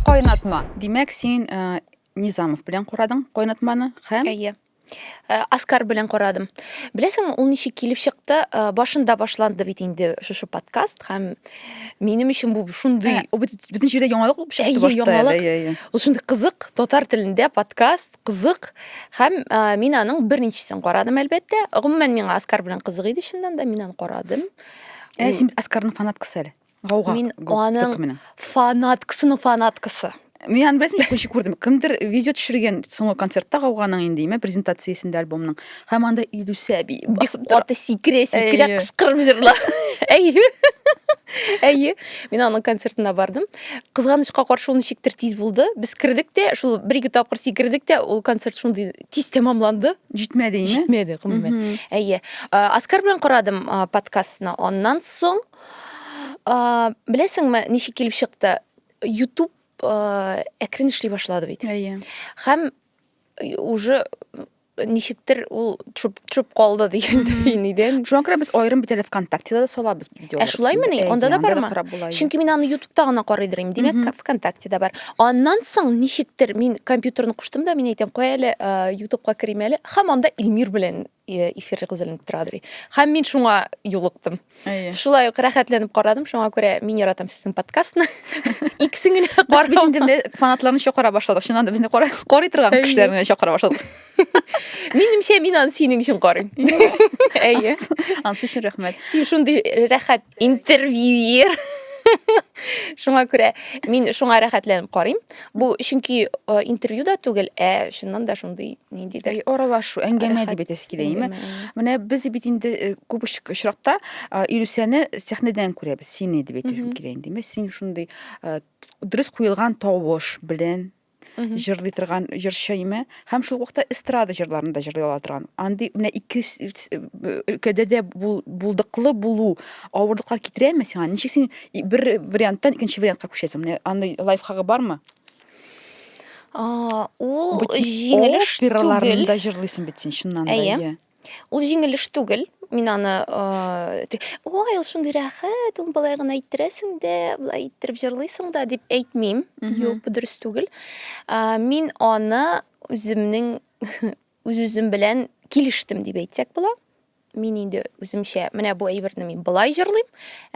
Кайнатма. Димәк, син э, Низамов белән курадың кайнатманы һәм Әйе. Э, Оскар белән карадым. Беләсең, ул ничек килеп чыкты? Э, башында башланды бит инде шушы подкаст һәм минем өчен бу шундый Ул бит бөтен җирдә яңалык булып чыкты Әйе, башта. яңалык. Әйе, әйе. Ул шундый кызык, татар телендә подкаст, кызык. Һәм ә, мин аның беренчесен карадым, әлбәттә. Гомумән, миңа Оскар белән кызык иде, чыннан да, мин аны карадым. Ә син бит Оскарның фанаткасы әле. Гауга. Мин аның фанаткасының фанаткасы. Мин аны беләсем кеше күрдем. Кемдер видео төшергән соңгы концертта гауганың инде име презентациясендә альбомның. Һәм анда Илүсә би басып тора. Каты сикерә, сикерә кычкырып җырла. Әйе. Әйе. Мин аның концертына бардым. Кызганычка каршы ул ничектер тиз булды. Без кердек тә, шул бер-ике тапкыр сикердек тә, ул концерт шундый тиз тәмамланды. Җитмәде инде. Җитмәде, гомумән. Әйе. Аскар белән карадым подкастны. Аннан соң, беләсеңме, ничек килеп чыкты? YouTube әкрен эшли башлады бит. Әйе. Һәм уже ничектер ул төшеп калды дигәндәй инде. Шуңа күрә без аерым бит әле ВКонтактеда да салабыз. Ә шулаймы ни? Анда да бармы? Чөнки мин аны ютубта гына карый дирим. Димәк, ВКонтакте да бар. Аннан соң ничектер мин компьютерны куштым да, мин әйтәм, кой әле ютубка керим әле. Хәм анда Илмир белән эфир гызелен тора дирим. Хәм мин шуңа юлыктым. Шулай ук рәхәтләнеп карадым, шуңа күрә мин яратам сезнең подкастны. Иксен генә карап. Без инде фанатларны чакыра башладык. Чыннан да безне карый торган кешеләрне чакыра башладык. Минемчә, мин аны синең өчен карыйм. Әйе. Ансы өчен рәхмәт. Син шундый рәхәт интервьюер. Шуңа күрә мин шуңа рәхәтләнеп карыйм. Бу чөнки э, интервью да түгел, ә чыннан да шундый ниндидер аралашу, әңгәмә дип әйтәсе килә, әйме? Менә без бит инде э, күп очракта э, Илүсәне сәхнәдән күрәбез, сине дип әйтәсем килә инде. Син шундый дөрес куелган тавыш белән җырлый торган җырчы име һәм шул вакытта эстрада җырларын да җырлый ала торган андый менә ике өлкәдә дә булдыклы булу авырлыкка китерәме сиңа ничек син бер варианттан икенче вариантка күчәсең менә андый лайфхагы бармы ул җиңелеш түгел операларында җырлыйсың бит син чыннан да әйе Ул җиңел эш түгел. Мин аны, э, ой, ул шундый рәхәт, ул былай гына иттерәсең дә, былай иттереп җырлыйсың да дип әйтмим. Юк, бу дөрес түгел. Э, мин аны үземнең үз-үзем белән килештем дип әйтсәк була. Мин инде үземчә менә бу әйберне мин былай җырлыйм,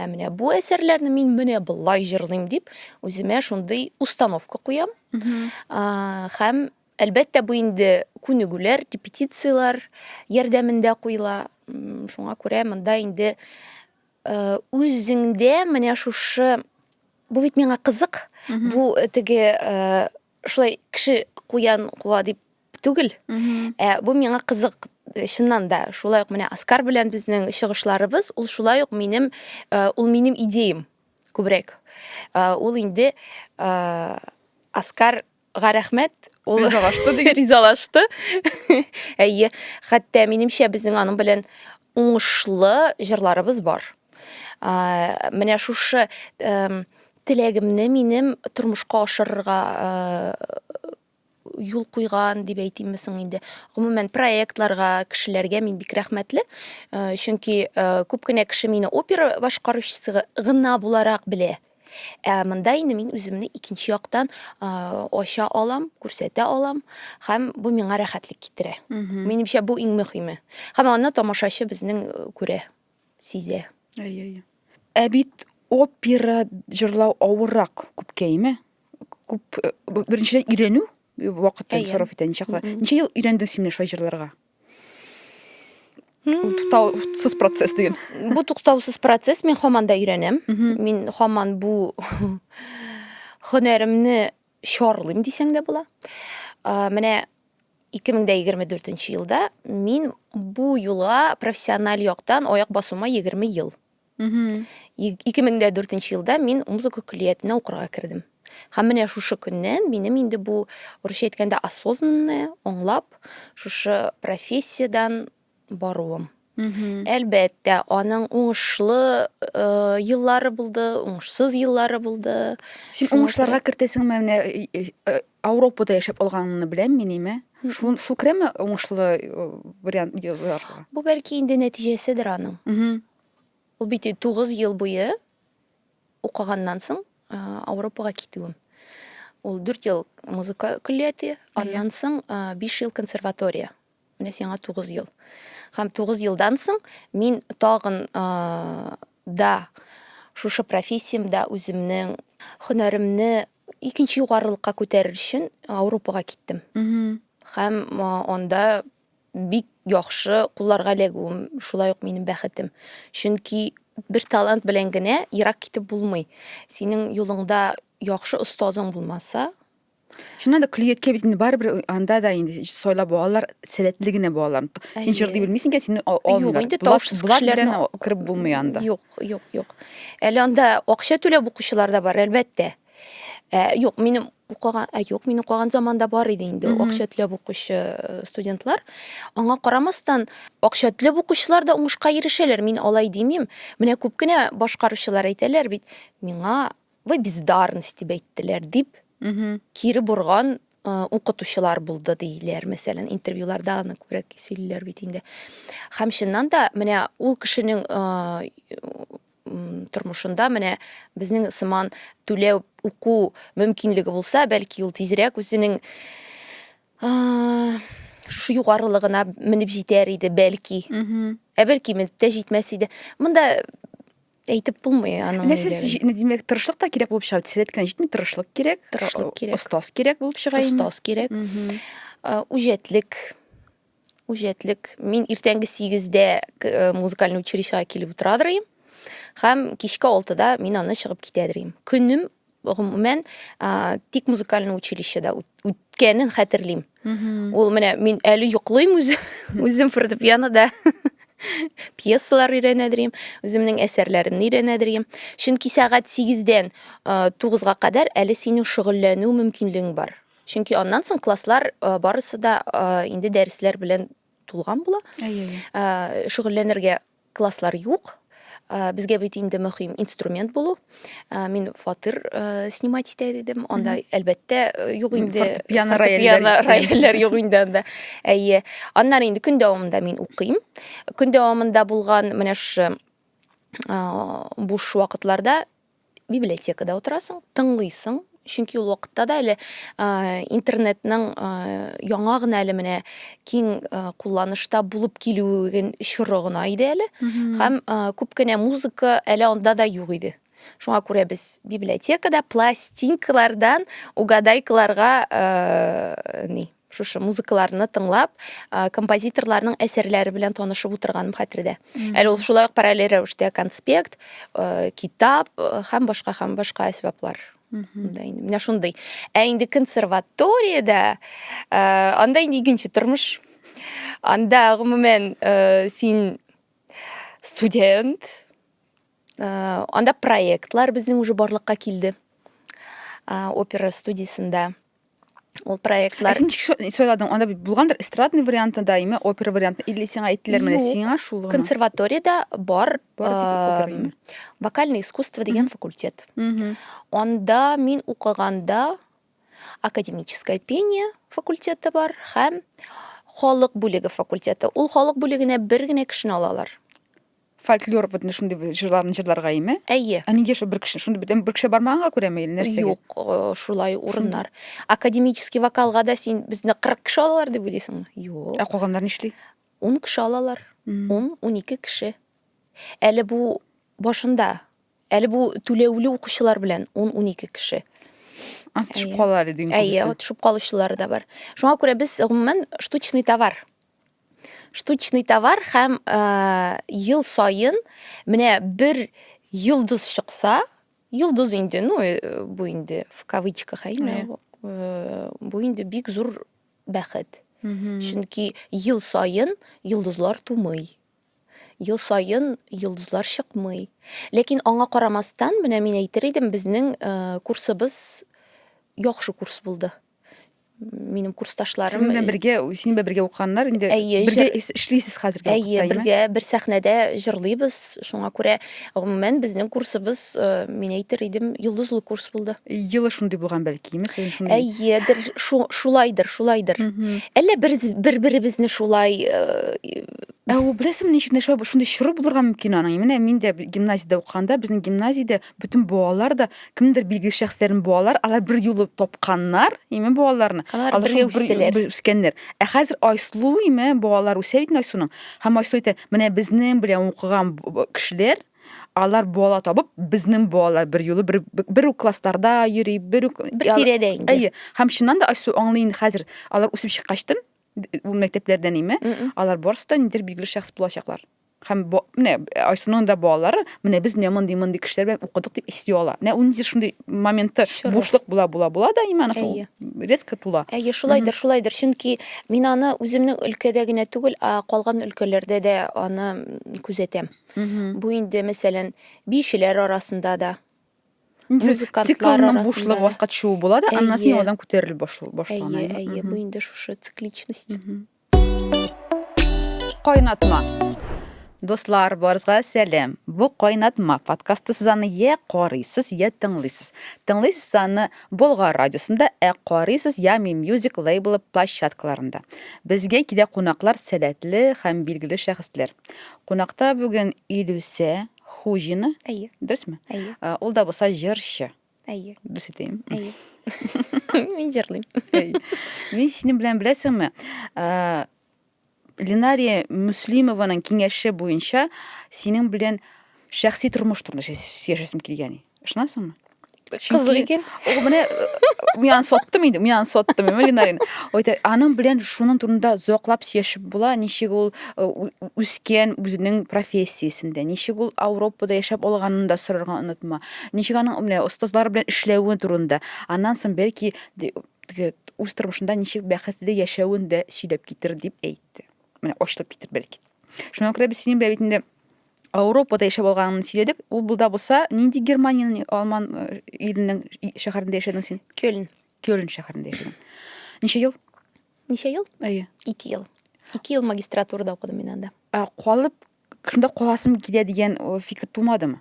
ә менә бу әсәрләрне мин менә былай җырлыйм дип үземә шундый установка куям. Э, һәм Әлбәттә, бу инде күнегүләр, репетицияләр ярдәмендә куела. Шуңа күрә монда инде үзеңдә менә шушы бу бит миңа кызык, бу теге шулай кеше куян куа дип түгел. Ә бу миңа кызык чыннан да шулай ук менә Оскар белән безнең чыгышларыбыз ул шулай ук минем ул минем идеям күбрәк. Ул инде Оскар га рәхмәт ул ризалашты диген ризалашты әйе хәтта минемчә безнең аның белән уңышлы җырларыбыз бар ә, менә шушы ә, теләгемне минем тормышка ашырырга ә, юл куйган дип әйтимме соң инде гомумән проектларга кешеләргә мин бик рәхмәтле ә, чөнки ә, күп кенә кеше мине опера башкаручысы гына буларак белә Ә монда инде мин үземне икенче яктан ача алам, күрсәтә алам һәм бу миңа рәхәтлек китерә. Минемчә бу иң мөһиме. Һәм аны тамашачы безнең күрә, сизә. Әйе, әйе. Ә бит опера җырлау авыррак күпкәеме? Күп беренчедән өйрәнү вакытын сорап итә ничаклы. Ничә ел өйрәндең син менә шулай җырларга? Ул туктаусыз процесс дигән. Бу туктаусыз процесс, мин хаман да өйрәнәм. Мин хаман бу хөнәремне чарлыйм дисәң дә була. Менә 2024 елда мин бу юлга профессиональ яктан аяк басуыма 20 ел. ике мең дә дүртенче елда мин музыка көллиятенә укырга кердем һәм менә шушы көннән минем инде бу урысча әйткәндә осознанное аңлап шушы профессиядан баруым әлбәттә аның уңышлы э, еллары булды уңышсыз еллары булды син уңышларга кертәсеңме менә э, э, Ауропада яшәп алганыңны беләм мин име? Шул шул керәме уңышлы э, вариант елларга? Бу бәлки инде нәтиҗәседер аның. Мгм. Ул бит 9 ел буе укыганнан соң э, Ауропага китүем. Ул 4 ел музыка көллияте, аннан соң 5 ел консерватория. Менә сиңа тугыз ел. Һәм тугыз елдан соң мин тагын да шушы профессиямдә үземнең һөнәремне икенче югарылыкка күтәрер өчен Ауропага киттем. Һәм анда бик яхшы кулларга эләгүем шулай ук минем бәхетем. Чөнки бер талант белән генә ерак китеп булмый. Синең юлыңда яхшы остазың булмаса, Шуннан да көлеп яткән бит инде барыбер анда да инде сайлап алалар сәләтле генә балаларны. Син җырлый белмисең икән, сине алмыйлар. Юк, инде тавышсыз кешеләрне кереп булмый анда. Юк, юк, юк. Әле анда акча түләп укучылар да бар, әлбәттә. Ә, юк, минем укыган, ә юк, мин укыган заманда бар иде инде акча түләп укучы э, студентлар. Аңа карамастан, акча түләп укучылар да уңышка ирешәләр. Мин алай димим. Менә күп кенә башкаручылар әйтәләр бит, миңа Вы бездарность дип әйттеләр, дип кире борган укытучылар булды диләр, мәсәлән, интервьюларда аны күбрәк сөйлиләр бит инде. Һәм чыннан да, менә ул кешенең тормышында менә безнең сыман түләү уку мөмкинлеге булса, бәлки ул тизрәк үзенең шушы югарылыгына менеп җитәр иде, бәлки. Ә бәлки менеп тә җитмәс иде. Монда әйтеп булмый аның нәрсә димәк тырышлык та кирәк булып чыга теләт кенә җитми тырышлык кирәк тырышлык кирәк остаз кирәк булып чыга остаз кирәк үҗәтлек үҗәтлек мин иртәнге сигездә э, музыкальный училищега килеп утырадыр идем һәм кичке алтыда мин аны чыгып китәдер идем көнем гомумән тик музыкальный училищеда үткәнен хәтерлим ул менә мин әле йоклыйм үзем үзем фортепианода пьесалар өйрәнәдерим үземнең әсәрләремне өйрәнәдерим чөнки сәгать сигездән тугызга кадәр әле синең шөгыльләнү мөмкинлегең бар чөнки аннан соң класслар барысы да инде дәресләр белән тулган була шөгыльләнергә Класслар юк. Э, безгә бит инде мөһим инструмент булу э, мин фатир э, снимать итә дидем анда әлбәттә юк инде фортепиано рояльләр юк инде анда әйе аннары инде көн дәвамында мин укыйм көн дәвамында булган менә шушы буш вакытларда библиотекада утырасың, тыңлыйсың, чөнки ул вакытта да әле интернетның яңа гына әле менә киң кулланышта булып килүен чоры гына иде әле һәм күп кенә музыка әле анда да юк иде шуңа күрә без библиотекада пластинкалардан угадайкаларга ни шушы музыкаларны тыңлап композиторларның әсәрләре белән танышып утырганым хәтердә әле ул шулай ук параллель рәвештә конспект китап һәм башка һәм башка әсбаплар да инде менә шундый ә инде консерваториядә анда инде икенче тормыш анда гомумән син студент анда проектлар безнең уже барлыкка килде опера студиясендә ул проектлар син ничек сайладың анда булгандыр эстрадный варианты да имя опера варианты или сиңа әйттеләр менә сиңа шул гына консерваториядә бар вокальное искусство деген факультет анда мин укыганда академическое пение факультеты бар һәм халык бүлеге факультеты ул халык бүлегенә бер генә кешене алалар фольклор вот шундый җырларын җырларга име? Әйе. Ә нигә шул бер кеше? Шундый бүтән бер кеше бармаганга күрәме или нәрсәгә? Юк, э, шулай урыннар. Академический вокалга да син безне 40 кеше алалар дип уйлыйсыңмы? Юк. Ә калганнар нишли? 10 кеше алалар. 10-12 кеше. Әле бу башында. Әле бу түләүле укучылар белән 10-12 кеше. Ансы төшеп кала әле диң. Әйе, төшеп калучылары да бар. Шуңа күрә без гомумән штучный товар штучный товар һәм э, ел саен менә бер йолдыз чыкса, йолдыз инде, ну, э, бу инде в кавычках, әйме, э, бу инде бик зур бәхет. Чөнки ел саен йолдызлар тумый. Ел саен йолдызлар чыкмый. Ләкин аңа карамастан, менә мин әйтер идем, безнең э, курсыбыз яхшы курс булды. минем курсташларым синең белән бергә синең белән бергә укыганнар инде әйе бергә эшлисез хәзерге вакытта әйе бергә бер сәхнәдә җырлыйбыз шуңа күрә гомумән безнең курсыбыз э, мин әйтер идем йолдызлы курс булды елы шундый булган бәлкиме син шундый әйедер шулайдыр шулайдыр әллә бер бер беребезне шулай э, ә ул беләсеңме ничек нәрсә шундый чоры булырга мөмкин аның менә мин дә гимназиядә укыганда безнең гимназиядә Бөтен балалар да кемдер билгеле шәхесләрен балалар, алар бер юлы тапканнар, име балаларны. Алар Алар бергә шул бер- үстеләр. бер үскәннәр. Ә хәзер Айсылу име балалар үсә бит Айсуның. Һәм Айсылу әйтә, менә безнең белән укыган б- б- кешеләр, алар бала табып, безнең балалар бер юлы бер, бер үк классларда йөри, бер үк... Бер Ял- тирәдә инде. Әйе. Һәм чыннан да Айсылу аңлый инде хәзер, алар үсеп чыккачтын, д- ул мәктәпләрдән име, Мгм. алар барысы да ниндидер билгеле шәхес булачаклар. Һәм бу, менә Айсуның да балалары, менә без менә мондый мондый кешеләр белән укыдык дип исти ала. Менә ул нидер шундый моментта бушлык була була була да иман ул резко тула. Әйе, шулайдыр, шулайдыр. Чөнки мин аны үземнең өлкәдә генә түгел, а калган өлкәләрдә дә аны күзәтәм. Бу инде, мәсәлән, биючеләр арасында да, музыкантлар циклның бушлыгы васка төшүе була да, аннан соң яңадан күтәрелеп башлана. Әйе, әйе, бу инде шушы цикличность. Кайнатма. Дуслар, барызга сәлем. Бу Кайнатма подкасты сез аны я карыйсыз, я тыңлыйсыз. Тыңлыйсыз аны Болгар радиосында, ә карыйсыз я Ми Music лейблы площадкаларында. Безгә килә кунаклар сәләтле һәм билгеле шәхесләр. Кунакта бүген Илүсә Хуҗина. Әйе. Дөресме? Әйе. Ул да булса җырчы. Әйе. Берсе дә. Әйе. Мин җырлыйм. Әйе. Мин синең белән беләсеңме? Ә, Ленария Муслимованың киңәше буенча синең белән шәхси тормыш турында сөйләшәсем килгән. Ышанасыңмы? Кызык икән. Ул менә мин аны соттым инде, мин аны соттым, мин Ленарин. Әйтә, аның белән шуның турында зоклап сөйләшеп була, ничек ул үскән үзенең профессиясендә, ничек ул Европада яшәп алганын да сорарга онытма. Ничек аның менә остазлар белән эшләве турында, аннан соң бәлки үз тормышында ничек бәхетле яшәвен дә сөйләп китер дип әйтте. Менә ачылып китер бәлки. Шуңа күрә без синең белән бит инде Ауропада яшәп алганын сөйләдек. Ул булда булса, нинди Германиянең Алман э, иленең шәһәрендә яшәдең син? Кёльн. Кёльн шәһәрендә яшәдең. Ничә ел? Ничә ел? Әйе. Ике ел. Ике ел магистратурада укыдым мин анда. Ә калып шунда каласым килә дигән э, фикер тумадымы?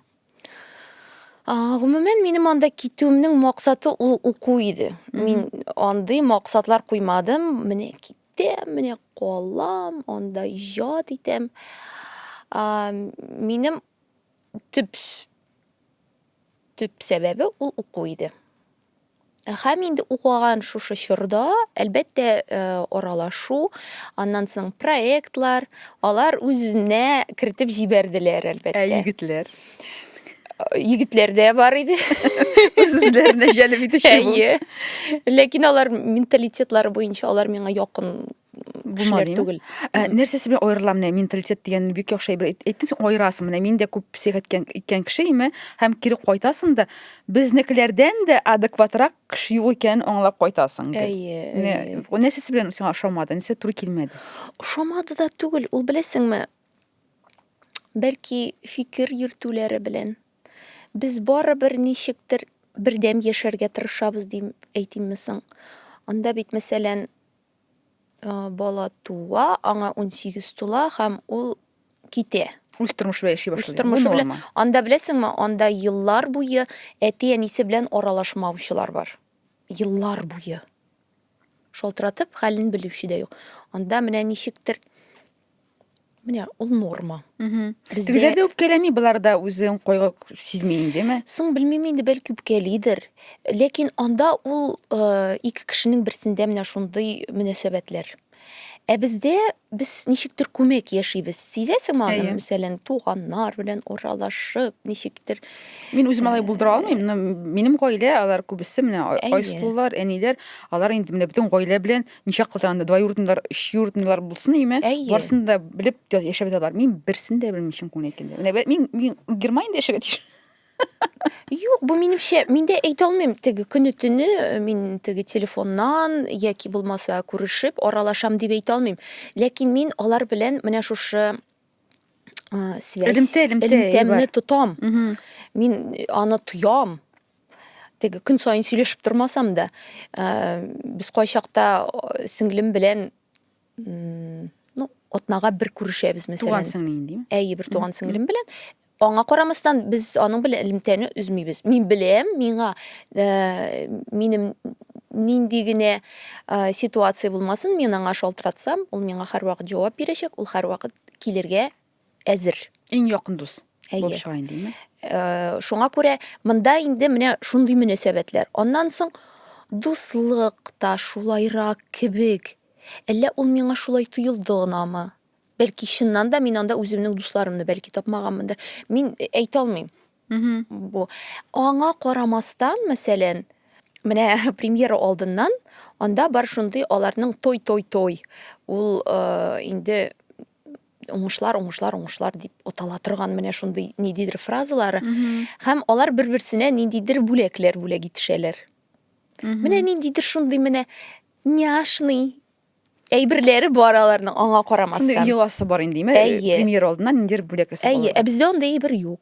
Гомумән, минем анда китүемнең максаты ул уку иде. Мин андый максатлар куймадым. Менә китәм, менә калам, анда иҗат итәм. Минем төп төп сәбәбе ул уку иде. Һәм инде укыган шушы чорда, әлбәттә, э, аралашу, аннан соң проектлар, алар үз-үзенә кертеп җибәрделәр, әлбәттә. Ә егетләр? Егетләр дә бар иде. Үзләренә җәлеп итүче бу. Әйе. Ләкин алар менталитетлары буенча алар миңа якын Булмады түгел. Ә, нәрсәсе белән аерыла менә менталитет дигән бик яхшы әйбер. Әйттең син аерасың менә мин дә күп псих әйткән иткән кеше име һәм кире кайтасың да безнекеләрдән дә адекватрак кеше юк икәнен аңлап кайтасың. Әйе. Нәрсәсе белән сиңа ошамады? Нәрсә туры килмәде? Ошамады да түгел, ул беләсеңме? Бәлки фикер йөртүләре белән. Без барыбер ничектер бердәм яшәргә тырышабыз дим әйтимме соң. Анда бит мәсәлән Бала туа, аңа унсигез тула һәм ул китә. Үз тормышы белән яши башлый. Үз тормышы белән. Анда беләсеңме, анда еллар буе әти-әнисе белән аралашмаучылар бар. Еллар буе. Шалтыратып, хәлен белүче дә юк. Анда менә ничектер Менә ул норма. Бездә Тегеләр дә үпкәләми, болар да үзен кайгы сизми индеме? соң белмим инде бәлки үпкәлидер. Ләкин анда ул э, ике кешенең берсендә менә шундый мөнәсәбәтләр. Ә бездә без ничектер күмәк яшибез. Сизәсеңме аны? Әйе. Мәсәлән, туганнар белән аралашып, ничектер Мин үзем алай булдыра алмыйм, но минем гаилә, алар күбесе менә ай- Әйе. айсылулар, әниләр, алар инде менә бөтен гаилә белән ничә кылда анда двоюродныйлар өчюродныйлар булсын име барысын да белеп яшәп яталар мин берсен дә белмим чын күңелен әйткәндә менә мин мин германиядә яшәргә тиеш Юк, бу минемчә, мин дә әйтә алмыйм, теге көне төне э, мин теге телефоннан яки булмаса күрешеп аралашам дип әйтә алмыйм. Ләкин мин алар белән менә шушы ә, связь элемтә элемтә, элемтәмне тотам мин аны тоям теге көн сайын сөйләшеп тормасам да ә, без кайчакта сеңлем белән ну атнага бер күрешәбез мәсәлән туган сеңлең димме әйе бер туган сеңлем белән Аңа карамастан, без аның белән элемтәне өзмибез. Мин беләм, миңа э, минем нинди генә э, ситуация булмасын, мин аңа шалтыратсам, ул миңа һәрвакыт җавап бирәчәк, ул һәрвакыт килергә әзер. Иң якын дус Әйе. булып чыга инде, димәк. Э, шуңа күрә монда инде менә шундый мөнәсәбәтләр. Аннан соң дуслык та шулайрак кебек. Әллә ул миңа шулай тоелды гынамы? Бәлки чыннан да мин анда үземнең дусларымны бәлки тапмаганмындыр. Мин э, әйтә алмыйм. Бу аңа карамастан, мәсәлән, менә премьера алдыннан анда бар шундый аларның той той той. Ул э, инде уңышлар, уңышлар, уңышлар дип атала торган менә шундый ниндидер фразалары. Һәм алар бер-берсенә ниндидер бүләкләр бүләк итешәләр. Менә ниндидер шундый менә няшный әйберләре бар аларның аңа карамастан. Шундый йоласы бар инде, ме? Әйе. Премьер алдыннан ниндидер бүләк ясап Әйе, ә бездә андый әйбер юк.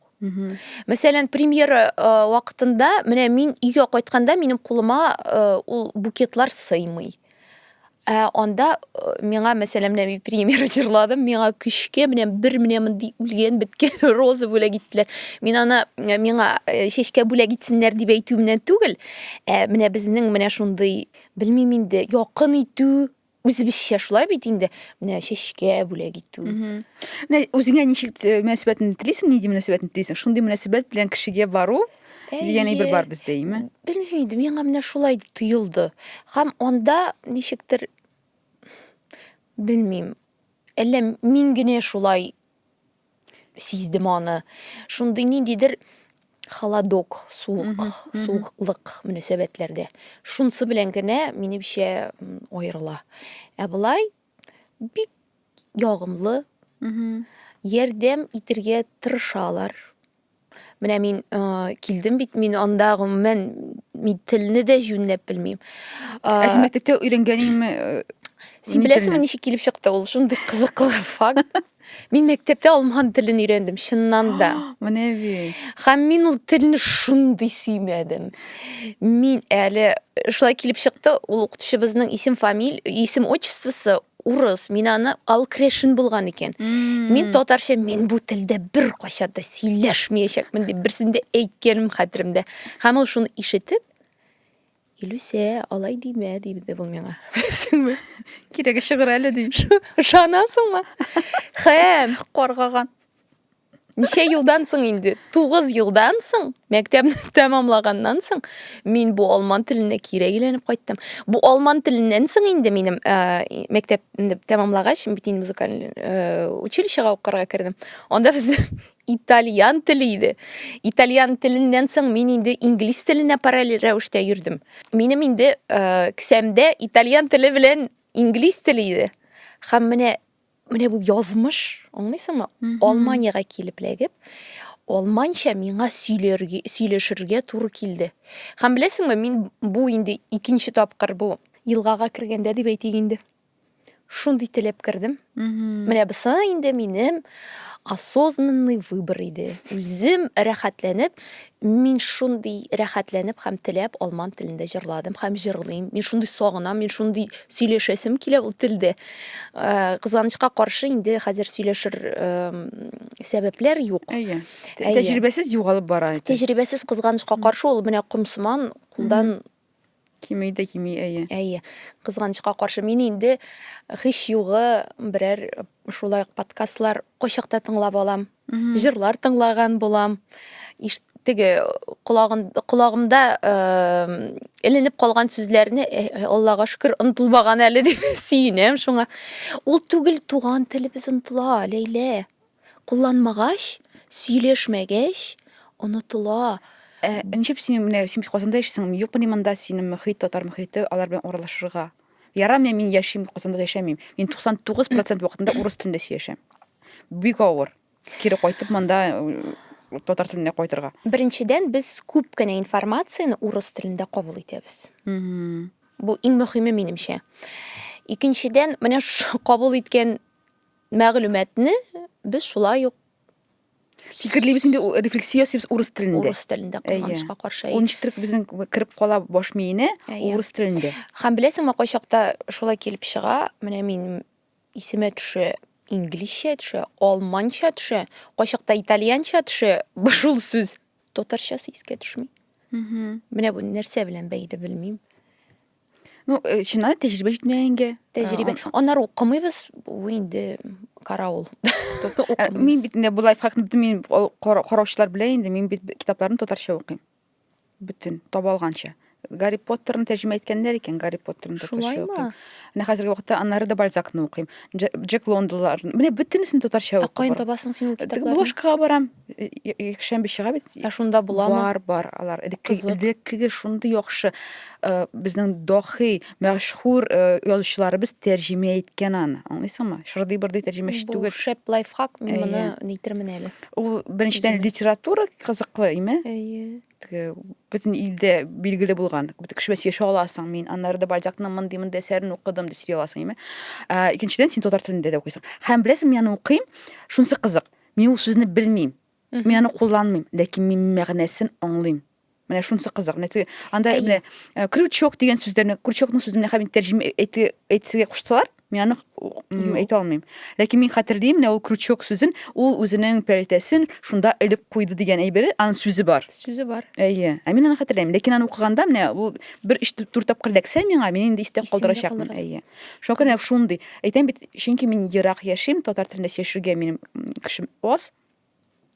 Мәсәлән, премьера вакытында менә мин өйгә кайтканда минем кулыма ул букетлар сыймый. Ә анда миңа, мәсәлән, менә мин премьер җырладым, миңа көчкә менә бер менә мондый үлгән беткән роза бүләк иттеләр. Мин аны миңа чәчкә бүләк итсеннәр дип әйтүемнән түгел, ә менә безнең менә шундый Белмим инде, якын итү үзебезчә шулай бит инде. Менә чәчкә бүләк итү. Менә үзеңә ничек э, мөнәсәбәтне телисең, нинди мөнәсәбәтне телисең? Шундый мөнәсәбәт белән кешегә бару дигән әйбер бар бездә, әйме? Белмим инде, миңа менә шулай тоелды. Һәм анда ничектер белмим. Әллә мин генә шулай сиздем аны. Шундый ниндидер холодок, суык, суыклык мөнәсәбәтләрдә. Шунсы белән генә минемчә аерыла. Ә болай бик ягымлы, ярдәм итергә тырышалар. Менә мин э, килдем бит, мин анда гомумән мин телне дә җүнләп белмим. Э, Ә син мәктәптә өйрәнгәнеңме? э, Син ни беләсеңме, телне? ничек килеп чыкты ул? Шундый кызыклы факт. Мин мәктәптә алман телен өйрәндем, чыннан да. Менә бит. Һәм мин ул телне шундый сөймәдем. Мин әле шулай килеп чыкты, ул укытучыбызның исем фамиль, исем отчествосы урыс, мин аны алкрешин булган икән. Мин татарча мин бу телдә бер кайчан да сөйләшмәячәкмен дип берсендә әйткәнем хәтеремдә. Һәм ул шуны ишетеп, Илүсә, алай димә, диде бу миңа. Беләсеңме? Кирәге чыгыр әле ди. Ышанасыңмы? Һәм каргаган. ничә елдан соң инде тугыз елдан соң мәктәпне тәмамлаганнан соң мин бу алман теленә кире әйләнеп кайттым бу алман теленнән соң инде минем ә, мәктәпне тәмамлагач бит инде музыкаль ә, училищега укырга кердем анда без итальян теле иде итальян теленнән соң мин инде инглиз теленә параллель рәвештә йөрдем минем инде ә, кесәмдә итальян теле белән инглиз теле иде һәм менә Менә бу язмыш, аңлыйсыңмы? Алманиягә килеп ләгеп, алманча миңа сөйләргә, сөйләшергә туры килде. Хәм беләсеңме, мин бу инде икенче тапкыр бу елгага кергәндә дип әйтик инде. Шундый теләп кердем. Менә бусы инде минем осознанный выбор иде. Үзем рәхәтләнеп Мин шундый рәхәтләнеп һәм теләп алман телендә җырладым һәм җырлыйм. Мин шундый сагынам, мин шундый сөйләшәсем килә ул телдә. Кызганычка каршы, инде хәзер сөйләшер сәбәпләр юк. Әйе. Тәҗрибәсез югалып бара. Тәҗрибәсез кызганычка каршы ул менә комсыман кулдан Кими дә кими, әйе. Әйе. Кызганычка каршы, мин инде һич югы берәр шулай ук подкастлар кайчакта тыңлап алам. Җырлар тыңлаган булам. Иш теге колагын колагымда эленеп калган сүзләрне э, Аллага шөкер онтылмаган әле дип сөенәм шуңа. Ул түгел туган телебез онтыла, Ләйлә. Кулланмагач, сөйләшмәгәч, онытыла. Ә ничеп син менә син бит Казанда яшисең, юкмыни монда синең мөхит, татар мөхите, алар белән аралашырга? Ярамыни мин яшим, Казанда яшәмим. Мин 99 процент вакытында урыс телендә сөйләшәм. Бик авыр. Кире кайтып монда татар теленә кайтырга. Беренчедән, без күп кенә информацияне урыс телендә кабул итәбез. Бу иң мөхиме, минемчә. Икенчедән, менә шушы кабул иткән Мәгълүматны без шулай ук фикерлибез инде рефлексия ясыйбыз урыс телендә урыс телендә кызганычка каршы ул ничектер безнең кереп кала баш миенә урыс телендә һәм беләсеңме кайчакта шулай килеп чыга менә мин исемә төшә инглизчә төшә алманча төшә кайчакта итальянча төшә шул сүз татарчасы искә төшми менә бу нәрсә белән бәйле белмим Ну, э, чыннан да тәҗрибә җитмәгәнгә. Тәҗрибә. Ә, Аннары укымыйбыз, бу инде караул. Ә, мин бит инде бу лайфхакны бөтен мин караучылар белә инде, мин бит китапларны татарча укыйм. Бөтен таба алганча. Гарри Поттерны тәрҗемә иткәннәр икән, Гарри Поттерны татарча укыйм. Менә хәзерге вакытта Аннары да Бальзакны укыйм. Джек Лондонлар. Менә бөтенесен татарча укыйм. Ә каян табасың син ул китапларны? Бложкага барам. якшәмбе чыга бит ә шунда буламы бар бар алар элеккеге шундый яхшы э, безнең дохи мәшһүр э, язучыларыбыз тәрҗемә иткән аны аңлыйсыңмы шырдый бырдый тәрҗемәче түгел шәп лайфхак мин моны нейтермен әле ул беренчедән литература кызыклы име әйе теге бөтен илдә билгеле булган кеше белән сөйләшә аласың мин аннары да бальзакның мондый мондый әсәрен укыдым дип сөйли аласың име ә, икенчедән син татар телендә дә укыйсың һәм беләсең мин аны укыйм шунысы кызык Мин ул сүзне белмим. Мин аны кулланмыйм, ләкин мин мәгънәсен аңлыйм. Менә шунысы кызык. Менә теге анда менә э, крючок дигән сүзләрне, крючокның сүзен менә хәбин тәрҗемә әйтергә куштылар, мин аны әйтә алмыйм. Ләкин мин хәтерлим, менә ул крючок сүзен, ул үзенең пәлтәсен шунда элеп куйды дигән әйбере, аның сүзе бар. Сүзе бар. Әйе. Ә мин аны хәтерләмим. Ләкин аны укыганда менә ул бер өч дүрт тапкыр ләксә миңа, мин инде истә калдырачакмын. Әйе. Шакыр нәкъ шундый. Әйтәм бит, чөнки мин ерак яшим, татар телендә сөйләшергә минем кешем аз.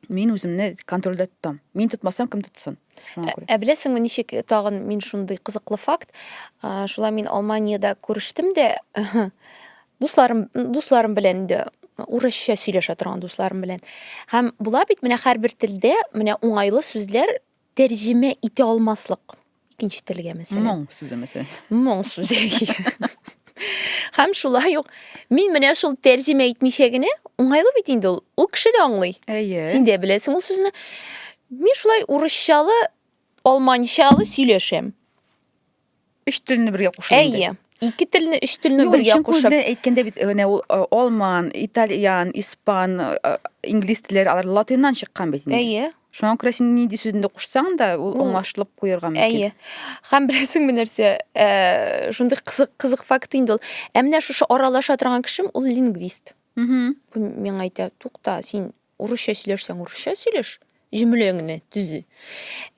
Мин үземне контрольдә тотам. Мин тотмасам, кем тотсын? Шуңа күрә. Ә беләсеңме, ничек тагын мин шундый кызыклы факт? А, Шулай мин Алманиядә күрештем дә, дусларым, дусларым белән инде урысча сөйләшә торган дусларым белән. Һәм була бит менә һәрбер телдә менә уңайлы сүзләр Тәрҗемә итә алмаслык икенче телгә мәсәлән. Моң сүзе мәсәлән. Моң сүзе. Хәм шулай ук мин менә шул тәрҗемә итмичә генә уңайлы бит инде ул. Ул кеше дә аңлый. Әйе. Син дә беләсең ул сүзне. Мин шулай урысчалы, алманчалы сөйләшәм. Өч телне бергә кушып. Әйе. Ике телне, өч телне бергә кушып. Юк, әйткәндә бит, менә ул алман, итальян, испан, инглиз телләре алар латиннан чыккан бит инде. Әйе. Шуңа күрә син нинди сүзне кушсаң да, ул аңлашылып куерга мөмкин. Әйе. Һәм беләсең менә нәрсә, э, шундый кызык кызык факт инде ул. Ә менә шушы аралаша торган кешем ул лингвист. Миңа әйтә, тукта, син Урысча сөйләшсәң, урысча сөйләш, җөмләңне төзи.